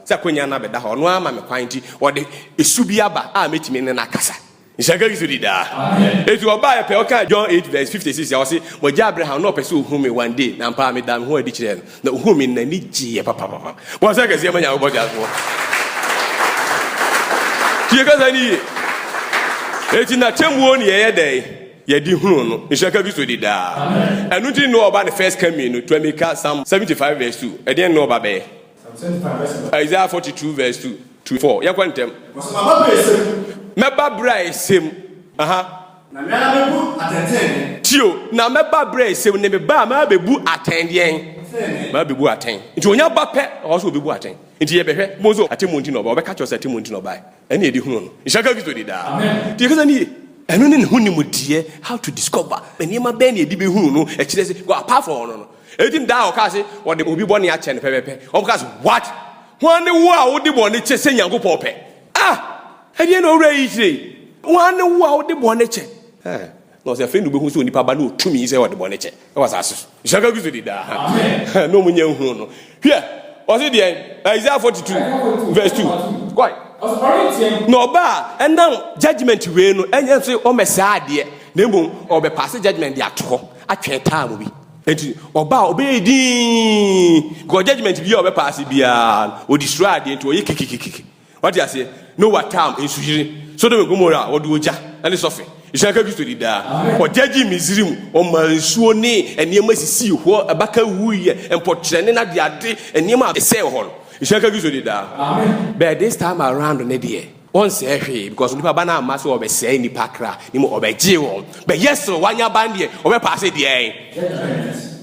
sɛ akwannya no abɛda hɔ a, ɔno ara ma me kwan, enti ɔde su bi aba a mɛtumi ne no akasa. Nhyira nka Kristo di daa. Enti ɔbaeɛ pɛ, ɔkaa John 8 vs 56 a, ɔse, Mo agya Abraham, na ɔpɛ sɛ ɔhu me one day, na ampa ara medaa me ho adi kyerɛɛ no, na ɔhuu me, na n'ani gyeeɛ papapapa. Bɔ nsɛm kɛseɛ ma Nyankopɔn teasefoɔ. Tie kasa no yie. Enti n'atemmuo ne yɛyɛ dɛn? yɛde hunu no nhyira ka Kristo di daa. Ɛno nti ne ɔba ne first coming no tuami ka Psalm 75 verse 2. Ɛdeɛn ne ɔba bɛyɛ? Isaiah 42 verse 2 to 4. Yɛnkɔ ntɛm. Mɛba berɛ a ɛsɛ mu. Aha. Na me ara bɛbu atɛntɛnne. Tio, na mɛba berɛ a ɛsɛ mu ne me ba a maa bɛbu atɛn deɛn? Maa bɛbu atɛn. Nti ɔnya ba pɛ ɔwɔ sɛ ɔbɛbu atɛn. Nti yɛbɛhwɛ mo nso atemmuo nti na ɔba. Ɔbɛka kyerɛ sɛ atemmuo nti na ɔbae. Ɛne yɛde hunu no. Nhyira nka Kristo di daa. Nti yɛkasa no yie. Ɛno ne ne ho nimdeɛ, how to discover, nneɛma bɛn na yɛde bɛhunu no, ɛkyerɛ sɛ, well, apart from ɔno no. Ɛtim daa a wɔkaa se, wɔde obi bɔne akyɛ no pɛpɛpɛ, wɔkaa se, what? Hwan ne wo a wode bɔne kyɛ sɛ Nyankopɔn pɛ? Ah! Ɛdeɛn na owura yi kyerɛ yi? Hwan ne wo a wode bɔne kyɛ? Eh! Na ɔse afei na wobehu sɛ onipa Ba no wɔ tumi sɛ ɔde bɔne kyɛ wɔ asase so. Nhyira nka Kristo din daa. Amen. Na wɔnnya nhuu no. Hwɛ, ɔse deɛn? Isaiah 42 verse 2. Kɔe. Na ɔba a, ɛnam judgment wei no, ɛnyɛ nso ɔmmɛsɛe adeɛ, na mmom ɔbɛpaase judgment de ato hɔ, atwɛn time bi. Nti ɔba a, ɔbɛyɛ dinn, because judgment bi a ɔbɛpaase biara no, ɔdestroy adeɛ nti ɔyɛ kikikikiki. Wate aseɛ? Noa tam nsuyiri, Sodom and Gomorrah, wɔde ogya ne sɔfe. Nhyira nka Kristo di daa. Ɔgyagye Misrim, ɔma nsuo ne nneɛma sisii hɔ, abaka wuiɛ, mpɔkyerɛ ne n'adeade, nneɛma a ɛsɛee hɔ no. Nhyira nka Kristo di daa. But this time around ne deɛ, ɔnsɛe hwee because onipa ba no amma sɛ ɔbɛsɛe nnipa kra, na mmom ɔbɛgye wɔn. But yɛ soro, wanya ba no deɛ, ɔbɛpaase deɛn? Judgement.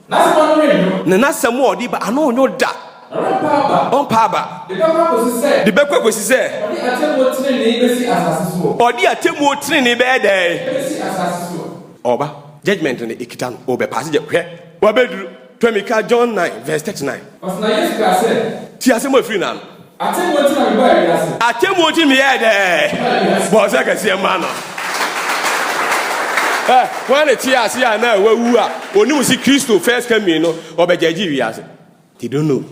N'asɛm ano yɛ nwo. Na n'asɛm a ɔde ba ano nwo da. Na ɔrempa aba. Ɔmpa aba. De bɛkɔ akosi sɛ. De bɛkɔ akosi sɛ. Ɔde atemmuo tenenee bɛsi asase soɔ. Ɔde atemmuo tenenee bɛyɛ dɛn? Ɛbɛsi asase so. Ɔreba, judgement no ɛkita no, ɔrebɛpaase judgement. Hwɛ, wabɛduru, Twamika, John nine, verse thirty nine. Ɔsena Yesu kaa sɛ. Tie asɛm a ɛfiri n'ano. Atemmuo nti na me bɔɔ wiase. Atemmuo nti me yɛɛ dɛ. Bɔɔ sɛ kɛseɛ mma no. Ɛ wɔn na tie ase a na wawu a onim si Kristo first coming no ɔbɛgyagye wiase. They don't know.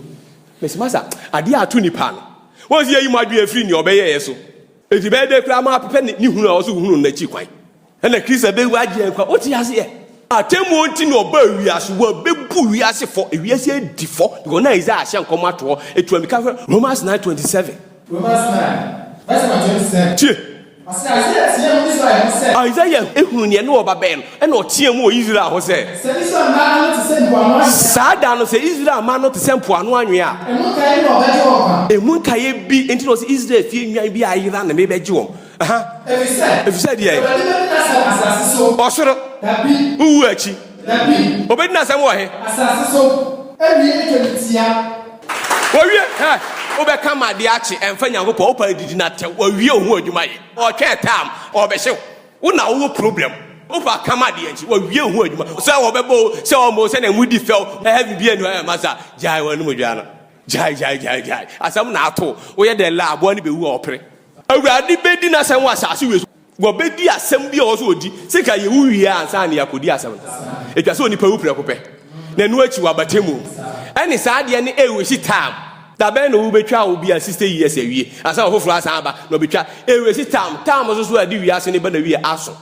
Mesi masa adeɛ a ato nipa no wɔn si yɛyi mo adwene afiri nea ɔbɛyɛɛ so eti bɛyɛ dɛ koraa ma apepɛ ne hunu a ɔso hunu no n'akyi kwan. Ɛna Kristo abɛwu agye yɛn nkwa. Wote aseɛ? Atemmuo nti na ɔbaa wiase, wɔbɛbu wiase fɔ, ewiase adi fɔ, deɛ wɔn a Isaiah ahyɛ nkɔm ato hɔ, ɛtua mi ka hwɛ, Romans nine twenty seven. Romans nine, verse number twenty seven. Tie. Ɔsɛ Isaiah teɛ mu Israel ho sɛ. Isaiah ehunu nea ɛne ɔba bɛn no, ɛna ɔteɛ mu wɔ Israel ho sɛ. Sɛ Israel mmaa ano te sɛ mpoano anwea. Saa da no sɛ Israel mmaa ano te sɛ mpoano anwea. Emu nkaeɛ bi na ɔbɛgye wɔn nkwa. Emu nkaeɛ bi nti na ɔsɛ Israel fie nnwan bi a ayera na mebɛgye wɔn. Efisɛ deɛ ɔsoro wowu akyi obedi n'asɛm wɔ he? Wɔwie hɛ wobɛka ma adeɛ akye ɛmfa Nyankopɔn wopɛ adidi na tɛw wɔwie wo ho adwuma yɛ ɔtwɛn tam ɔbɛhyew wo na wowɔ problem wopɛ aka ma adeɛ nkye wɔwie wo ho adwuma sɛ wɔbɛbɔ sɛ ɔmo sɛ na ɛmu di fɛw ɛhɛ bibi ɛnu ɛyɛ masa gyae wɔn anum dwa no gyae gyae gyae gyae asɛm na ato woyɛ dɛ la aboa no bɛwu a ɔpere Awurade bɛdi n'asɛm wɔ asase wei so. Wɔbɛdi asɛm bi a ɔwɔ sɛ ɔdi. Sɛ nka yɛwu wie a ansa na yɛakɔdi asɛm no. Ɛtwa sɛ onipa wu prɛko pɛ, na ɛno akyi wabata mu. Ɛne saa adeɛ no ɛwɔ si tam. Da bɛn na wobɛtwa wo bia 60 years awie ansa na ɔfoforɔ asan aba na ɔbɛtwa. Ɛwɔ si tam. Tam nso so a ɛde wiase no ba na wie aso.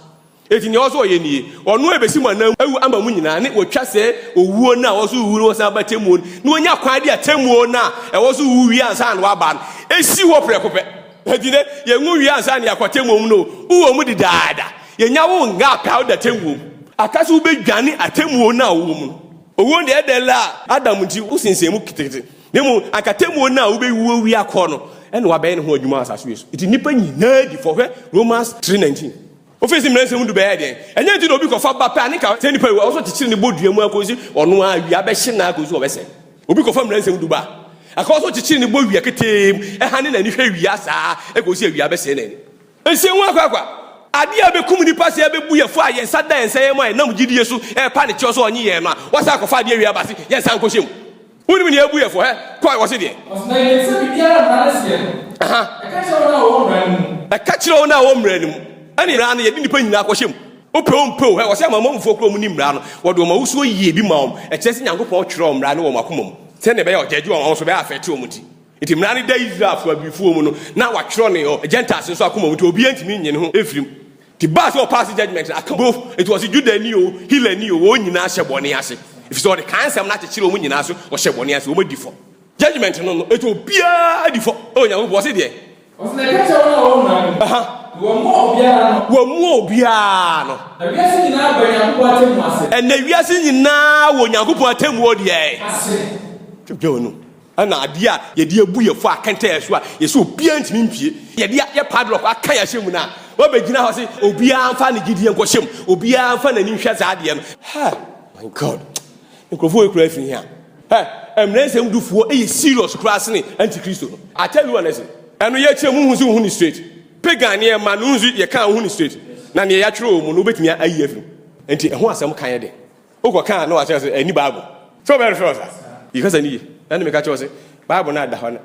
Enti nea ɔwɔ sɛ ɔyɛ nie, ɔno a ɛbɛsi mo anan mu awu ama mo nyinaa, ne ɔtwa sɛ owuo no a ɔwɔ sɛ ɔwu no wɔsan ba atemmuo no, na ɔnya kwan de atemmuo no a ɛwɔ sɛ ɔwu wie ansa na waba no ɛsi hɔ prɛko pɛ. Enti nnɛ, yɛnwu wie ansa na yɛakɔ atemmuo mu no o, wowɔ mu dedaada, yɛnya wo nga pɛ a wode atemmuo mu aka sɛ wobɛdwane atemmuo no a wowɔ mu no. Owuo no deɛ ɛda la a, Adam nti wosensɛn mu ketekete, na mmom anka atemmuo no a wobɛwu awie akɔ no na wabɛyɛ ne ho adwuma wɔ asase wei so. Enti nnipa nyinaa di fɔ, hwɛ Romans three nineteen. Wofii se mmerɛnsɛm mu du bɛyɛɛ dɛn? Ɛnyɛ nti na obi kɔfa ba pɛ a ne nka sɛ nipa yi wɔ so kyekyere ne bɔ dua mu akosi ɔno ara awia bɛhye na akosi ɔbɛsɛ. Obi kɔfa mmerɛnsɛm du ba a, ɛka wɔ so kyekyere ne bɔ wia ketee mu, ɛhane n'ani hwɛ wia saa ara kosi awia bɛsɛe n'ani. Nhyɛ hu akwaakwa. Ade a ɛbɛkum nnipa sɛ yɛbɛbu yɛn fɔ a yɛn nsa da yɛn nsayɛ mu a yɛnam gyidie so repa ne kyɛw sɛ ɔnnye yɛn no a, wɔasan akɔfa adeɛ awie aba se yɛnsan nkɔhyɛ mu. Wonim nea abu yɛ fɔ. Hɛ, kɔ, wɔse deɛ. Wɔse na yɛnim sɛ biribiara mmara no seɛ no. Aha. Ɛka kyerɛ wɔn a wɔwɔ mmara no mu. Ɛka kyerɛ wɔn a wɔwɔ mmara no mu. Ɛne mmara no yɛde nnipa nyinaa kɔhyɛ mu. Wopɛ wompɛ o, hɛ, wɔse amanamanmufoɔ koraa wɔnim mmara no. Wɔde wɔn ahosuo yie bi ma wɔn. Ɛkyerɛ sɛ Nyankopɔn twerɛɛ mmara no wɔ wɔn akoma mu. Sɛdeɛ ɛbɛyɛ a ɔgyaagyee wɔn ahosuo bɛyɛ afɛɛte wɔn ti. Enti mmara no da Israelfoɔ, Abifoɔ, mu no, na wɔatwerɛ no wɔ Gentiles nso akoma mu, enti obiara ntumi nnye ne ho mfiri mu. Nti baa sɛ ɔpaase judgment no aka both nti ɔse Judani o, Helani o, wɔn nyinaa hyɛ bɔne ase efisɛ ɔde kaa nsɛm no akyekyere wɔn nyinaa so ɔhyɛ bɔne ase wɔn adi fɔ. Judgment no no ɛtu obiara adi fɔ ɛwɔ Nyankopɔn ɔse deɛ. Ɔse na ɛka kyerɛ wɔn a wɔn mmra no na wɔmmoa obiara ano. Wɔmmoa obiara ano. Na wiase nyinaa ba Nyankopɔn atemmuo ase. Ɛnna wiase nyinaa wɔ Nyankopɔn atemmuo deɛ. Ase. Dwendwene wɔn mu. Ɛna adeɛ a yɛde abu yɛn fɔ akɛntɛn yɛn so a yɛsɛ obiara ntumi mpue, yɛde ayɛ padlock aka yɛn ahyɛ mu no a, wabɛgyina hɔ se obiara mfa ne gyedie nkɔhyɛ mu, obiara mfa n'ani nhwɛ saa adeɛ no. Ha! My God! Nkurɔfoɔ wei koraa firi he a? Hɛ! Mmara Nsɛm Dufoɔ yɛ serious koraa sene Antikristo no. I tell you honestly. Ɛno yɛkyerɛ mu, wohu nso wohu no straight. Pagan nneɛma no nso yɛka a wohu no straight. Na deɛ yɛatwerɛ wɔ mu no wobɛtumi ayi afiri mu. Nti ɛho asɛm ka yɛ den. Wo kɔ ka a na wakyerɛ sɛ ɛni bible. Sɛ ɔbɛ refer ɔsa. Yi kasa ni ye. Na ne me ka kyerɛ ɔse bible na da hɔ no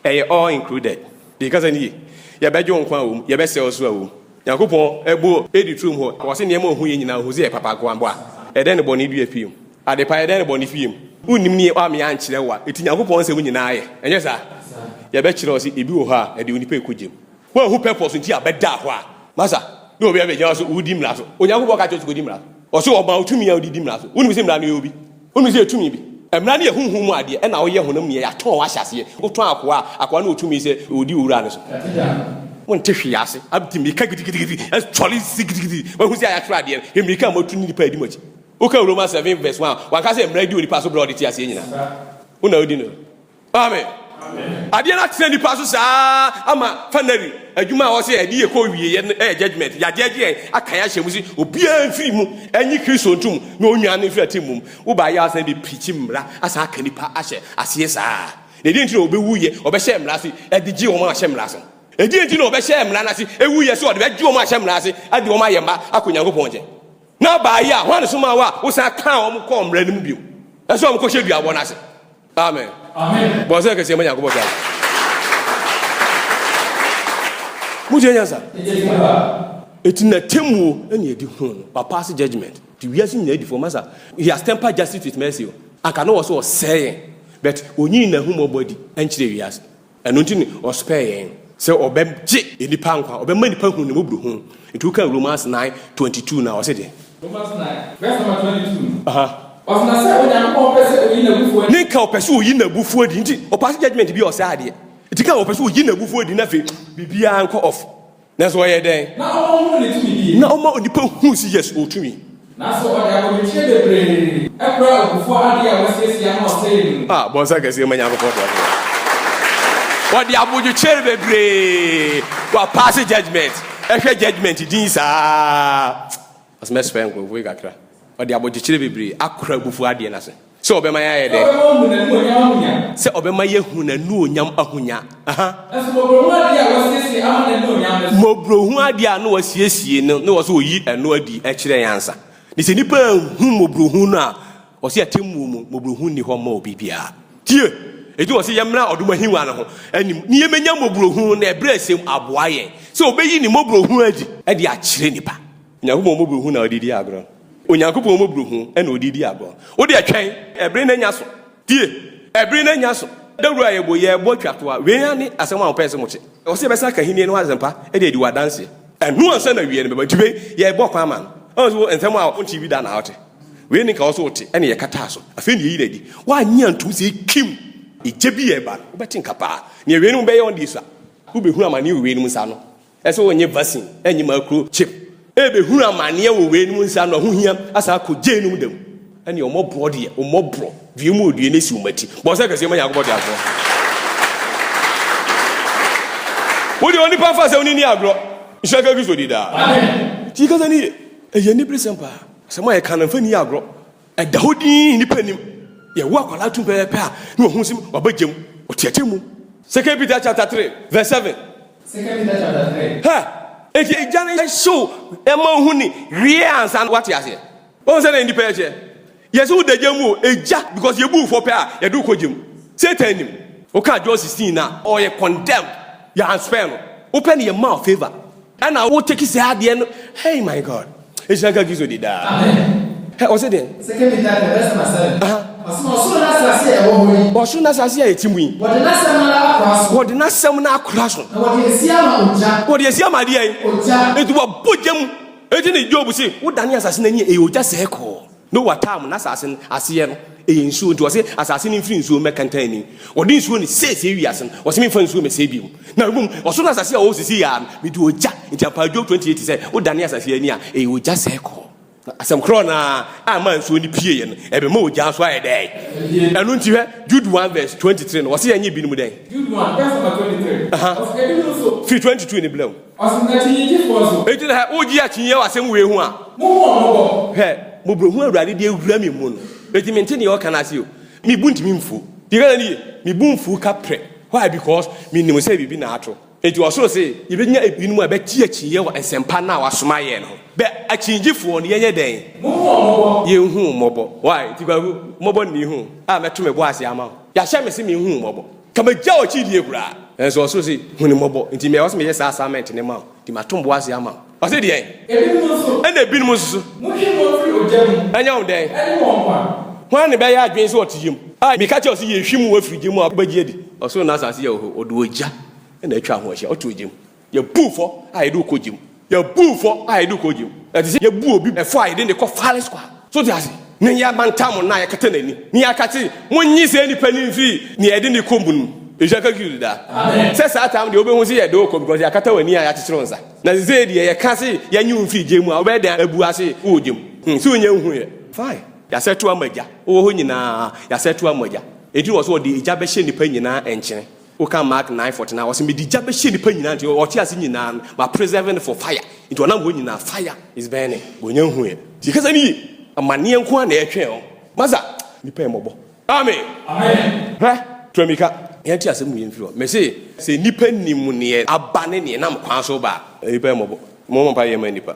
ɛyɛ all included. Yi kasa ni ye. Yɛ bɛ gye wo nkwa a wɔ mu, yɛ bɛ sɛ wo so a wɔ mu. Nyankopɔn ɛbo edi trom hɔ. Wɔ se nneɛma ohu ye nyinaa ohu se ɛyɛ papa nko a. Bɔ a ɛdɛn ne bɔne dua fie mu? Ade pa ɛdɛn ne bɔne fie mu? Wo nnim ne wa me ankyerɛ wo a. Eti Nyankopɔn nsɛm nyinaa yɛ. Ɛnyɛ saa? Yɛ bɛ kyerɛ wo se ebi wɔ hɔ a ɛde onipa ɛkɔ gya mu. Woanhu purpose nti a bɛdaa hɔ a. Masa, ne obi abɛgyina hɔ se wodi mmara so. Onyankopɔn ka kyerɛ wo se kodi mmara so. Ɔse ɔmaa wo tumi a wode di mmara so. Wonim se mmara no yɛ obi? Wonim se yɛ tumi bi? Mmara no yɛ honhom mu adeɛ ɛna woyɛ honam nneyɛɛ. Yɛatɔn wo ahyɛ aseɛ. Wotɔn akoa a, akoa no wɔ tumi sɛ ɔdi owura no so. Wonte hwee ase. Abte mmirika gidigidigidi asɔre si gidigidi. Woahu se a yɛatwerɛ adeɛ no? Hwɛ mmirika a moatu ne nnipa a ɛdi mo akyi. Wokan Romans seven verse one a, wanka sɛ mmara di onipa so berɛ a ɔde te aseɛ nyinaa? Wo na wodi no so. Amen. Adeɛ no atena nipa so saa ama fanary adwuma a ɔsɛ ɛde yɛ kɔ wie yɛ no ɛyɛ judgment yagye agye yɛn aka yɛ ahyɛ mu si obiara mfiri mu ɛnye kristo ntom na onwia no mfiri ate mmom woba yɛ asan de pirikyi mmara asan aka nipa ahyɛ aseɛ saa na ɛdeɛ nti na ɔbɛwu yɛ ɔbɛhyɛ mmara ase ɛde gye wɔn ahyɛ mmara ase ɛdeɛ nti na ɔbɛhyɛ mmara no ase ɛwu yɛ sɛ ɔde bɛgye wɔn ahyɛ mmara ase ɛde wɔn ayɛ mma akɔ nyankopɔn nkyɛn na ɔbaa yɛ a hwan ne soma wo a wosan kaa wɔn kɔɔ mmara no mu bio ɛsɛ wɔn kɔhyɛ duabɔ no ase Amen. Bɔ sɛ kɛseɛ ma Nyankopɔn saa. Mosua nyansa. Eti na temmuo ɛna ɛdi ho no ba pass judgment to wiase nyinaa di fo masa he has tempered justice with mercy o anka na wɔ so ɔsɛɛ yɛn but onyii n'ahummɔbɔ adi ɛnkyerɛ wiase Ɛno nti na ɔsopɛɛ yɛn. Sɛ ɔbɛgye nnipa nkwa, ɔbɛma nnipa ahunu ne mmɔborɔhunu. Nti wokan Romans nine twenty two no a, ɔse deɛn? Romans nine verse number twenty two no, ɔse na sɛ Onyankopɔn pɛ sɛ ɔyi n'abufuo adi. Ne nka ɔpɛ sɛ ɔyi n'abufuo adi, nti ɔpaase judgement bi a ɔsɛe adeɛ. Nti ka ɔpɛ sɛ ɔyi n'abufuo adi na afei biribiara nkɔ off. Nanso ɔyɛ dɛn? Na ɔma ɔhunu ne tumidie. Na ɔma onipa hunu sɛ yes, ɔwɔ tumi. Nanso ɔde akomekyire bebree kura abufuo adeɛ a wasiesie ama ɔsɛeɛ no mu. Ah, bɔ nsa kɛseɛ ma Nyankopɔn teasefoɔ. Ɔde abodwokyere bebree, wapaase judgement. Hwɛ judgement din saa. Ɔse mɛsrɛ nkorɔfoɔ yi kakra. Ɔde abɔgyekyerɛ bebree akora abufuo adeɛ no ase. Sɛ ɔbɛma yɛayɛ dɛ? Sɛ ɔbɛma wɔahu n'anuonyam ahonya. Sɛ ɔbɛma yɛahu n'anuonyam ahonya. Aha. Nanso mmɔborɔhunu adeɛ a wɔasiesie ama n'anuonyam no so. Mmɔborɔhunu adeɛ a na wɔasiesie no, na ɔse ɔyi ɛno adi kyerɛ yɛn ansa. Ne sɛ nnipa anhu mmɔborɔhunu no a, Ɔse atemmuo mu mmɔborɔhunu nni hɔ mma obi biara. Tie! Enti ɔse yɛmmra ɔdom ahengua no ho anim ne yɛmmɛnya mmɔborɔhunu na abrɛsɛm aboa yɛn sɛ ɔbɛyi ne mmɔborɔhunu adi de akyerɛ nnipa. Onyankopɔn mmɔborɔhunu na ɔde redi agorɔ no. Onyankopɔn mmɔborɔhunu na ɔde redi agorɔ. Wodeɛ twɛn, ɛbere no anya so. Tie! Ɛbere no anya so. Dawuro a yɛbɔ yi, yɛrebɔ twa to a, wei ara ne asɛm a mopɛɛ sɛ mote. Ɔse yɛbɛsan aka Ahennie no ho asɛmpa de adi wɔ adanseɛ. Ɛno ansa na awieɛ no bɛba. Enti wei, yɛrebɔ kwan ma no. Ɔnso wo, nsɛm a wontee bi da na wote. Wei ne nka wo nso wote ɛne yɛkataa so. Afei ne yɛyi no adi. Woannye antom sɛ ekim egya bi reba no, wobɛte nka paa. Nea weinom bɛyɛ wɔn deɛ sua. Wobɛhunu amaneɛ wɔ weinom nsa ano. Ɛsɛ sɛ wonnye vaccine, ɛnnye macro chip. Ɛrebɛhunu amaneɛ wɔ weinom nsa ano, ɛho hia. Asan akɔ gyeinom da mu. Ɛne ɔmmɔborɔ deɛ, ɔmmɔborɔ. Due mu odue na esi wɔn akyi. Bɔ nsɛ kɛseɛ ma Nyankopɔn teasefoɔ. Wo deɛ onipa mfa asɛm no nni agorɔ. Nhyira nka Kristo din daa. Amen. Nti kasa no yie. Ɛyɛ aniberesɛm paa. Asɛm a yɛka no, mfa nni agorɔ. Ɛda hɔ dinn, nnipa nnim. Yɛwo akwadaa tu pɛpɛɛpɛ a, na wahu sɛ waba gya mu. Ɔteateam mu. Second Peter chapter three verse seven. Second Peter chapter three. Hɛ! Enti agya no nhyew mma ohu ne yere ansa na wate aseɛ. Woahu sɛdeɛ nnipa yɛ teɛ? Yɛse wo da gya mu o, egya, because yɛbu wo fɔ pɛ a, yɛde wo kɔ gya mu. Satan nim. Wokaa John sixteen no a, ɔyɛ condemned. Yɛanspare no. Wopɛ no yɛmma wo favour. Ɛna wo take sɛ adeɛ no hey my God ehyira nka Kristo di daa hɛ ɔsi deɛ. Second Peter chapter verse number seven. Aha. Ɔsi na ɔsoro n'asase a ɛwɔ hɔ yi. Ɔsoro n'asase a ɛte mu yi. Wɔde n'asɛm no ara akora so. Wɔde n'asɛm no akora so. Na wɔde esi ama ogya. Wɔde esi ama adeɛ yi. Ogya. Eti wɔbɔ gya mu. Eti ne Job si wodane asase n'ani ɛyɛ ogya sɛɛ kɔɔ. Noa taa mu, n'asase no aseɛ no ɛyɛ nsuo, nti ɔse asase no mfiri nsuo mmɛ kɛntɛnni, wɔde nsuo ne siesie wiase no, ɔse memfa nsuo mɛsɛe bio, na mmom ɔsoro ne asase a ɔwɔ sisi yɛ ara no mede ogya, nti ampa Job 28 sɛ wo dane asase ani a ɛyɛ ogya sɛe kɔɔ. Na asɛm korɔ no ara a ɛmaa nsuo no pieeɛ no, ɛbɛma ogya nso ayɛ dɛn? Ɛno nti hwɛ Jude 1 vs 23 no, ɔse yɛnyɛ binom dɛn? Jude 1 vs 23, ɔse ɛbinom nso. Firi 22 no brɛ mu. Ɔse n'akyinnyegyefoɔ nso. Enti na hɛ, wogye akyinnyeɛ wɔ asɛm wei ho a. Mo hu wɔn mmɔbɔ. Hwɛ, mmɔborɔhunu a Awurade de awura me mu no, enti mente deɛ ɔka no ase o. Me bo ntumi mfu. Deɛ Ghana no ye, me bo mfu ka prɛ. Why? Because menim sɛ biribi na ato. Enti ɔsoro se, yɛbɛnya ebinom a yɛbɛgye akyinnyeɛ wɔ nsɛmpa no a wɔasoma yɛn no ho. Bɛ, akyinnyegyefoɔ no, yɛnyɛ dɛn? Mo hu wɔn mmɔbɔ. Yɛnhu wo mmɔbɔ. Why? Enti Kwaku, mmɔbɔ nni ho a mɛto me bo ase ama wo. Yɛahyɛ me se menhu wo mmɔbɔ. Ka megyaw akyi die koraa. Nanso ɔsoro se, Hu no mmɔbɔ, nti me a ɛwɔ sɛ meyɛ saa assignment no ma wo, nti mato mmoa ase ama wo. Ɔse deɛn? Ebinom nso. Ɛna ebinom nso so. Motwe wɔn firi ogya mu. Ɛnyɛ wɔn dɛn? Ɛne wɔn nkwa. Hwan na ɛbɛyɛ adwene sɛ ɔte yam? A, meka kyerɛ wo sɛ, yɛhwim wo afiri gya mu a wobɛgye adi. Ɔsoro ne asase yɛ hɔ, ɔde ogya na atwa ho ahyia, ɔto ogya mu. Yɛbu fɔ a yɛde wo kɔ gya mu. Yɛbu fɔ a yɛde wo kɔ gya mu. Ɛte sɛ yɛbu obi fɔ a yɛde no kɔ firing squad. So wote ase? Na yɛamantam no na yɛakata n'ani. Na yɛaka se, Monnye saa nipa no mfiri nea yɛde no rekɔ mu no mu. Nhyira nka Kristo daa. Sɛ saa time deɛ, wobehu se yɛde wo kɔ because yɛakata w'ani a yɛakyekyere wo nsa. Na sesei deɛ, yɛka se yɛnye wo mfiri gya mu a, wobɛyɛ dɛn abu ase wɔ gya mu? Hmm, so wonyɛ nhuiɛ? Fine. Yɛasɛto ama gya. Wowɔ hɔ nyinaa, yɛasɛto ama gya. Enti na ɛwɔ sɛ wɔde gya bɛhyɛ nnipa nyinaa nkyene. Wokan Mark nine forty nine a, ɔse, Mede gya bɛhyɛ nnipa nyinaa nti, ɔte ase nyinaa no, ma preserve no for fire. Nti ɔnam hɔ nyinaa, fire is burning. Wɔnnya nhuuɛ. Nti kasa no yie. Amaneɛ nko ara na yɛtwɛn o. Masa! Nnipa yɛ mmɔbɔ. Amen! Hwɛ! Tua mmirika. Yɛnte asɛm no yie mfiri hɔ. Mese, sɛ nnipa nim neɛ aba ne neɛ nam kwan so ba a, nnipa yɛ mmɔbɔ. Mommɔ mpaeɛ mma nnipa.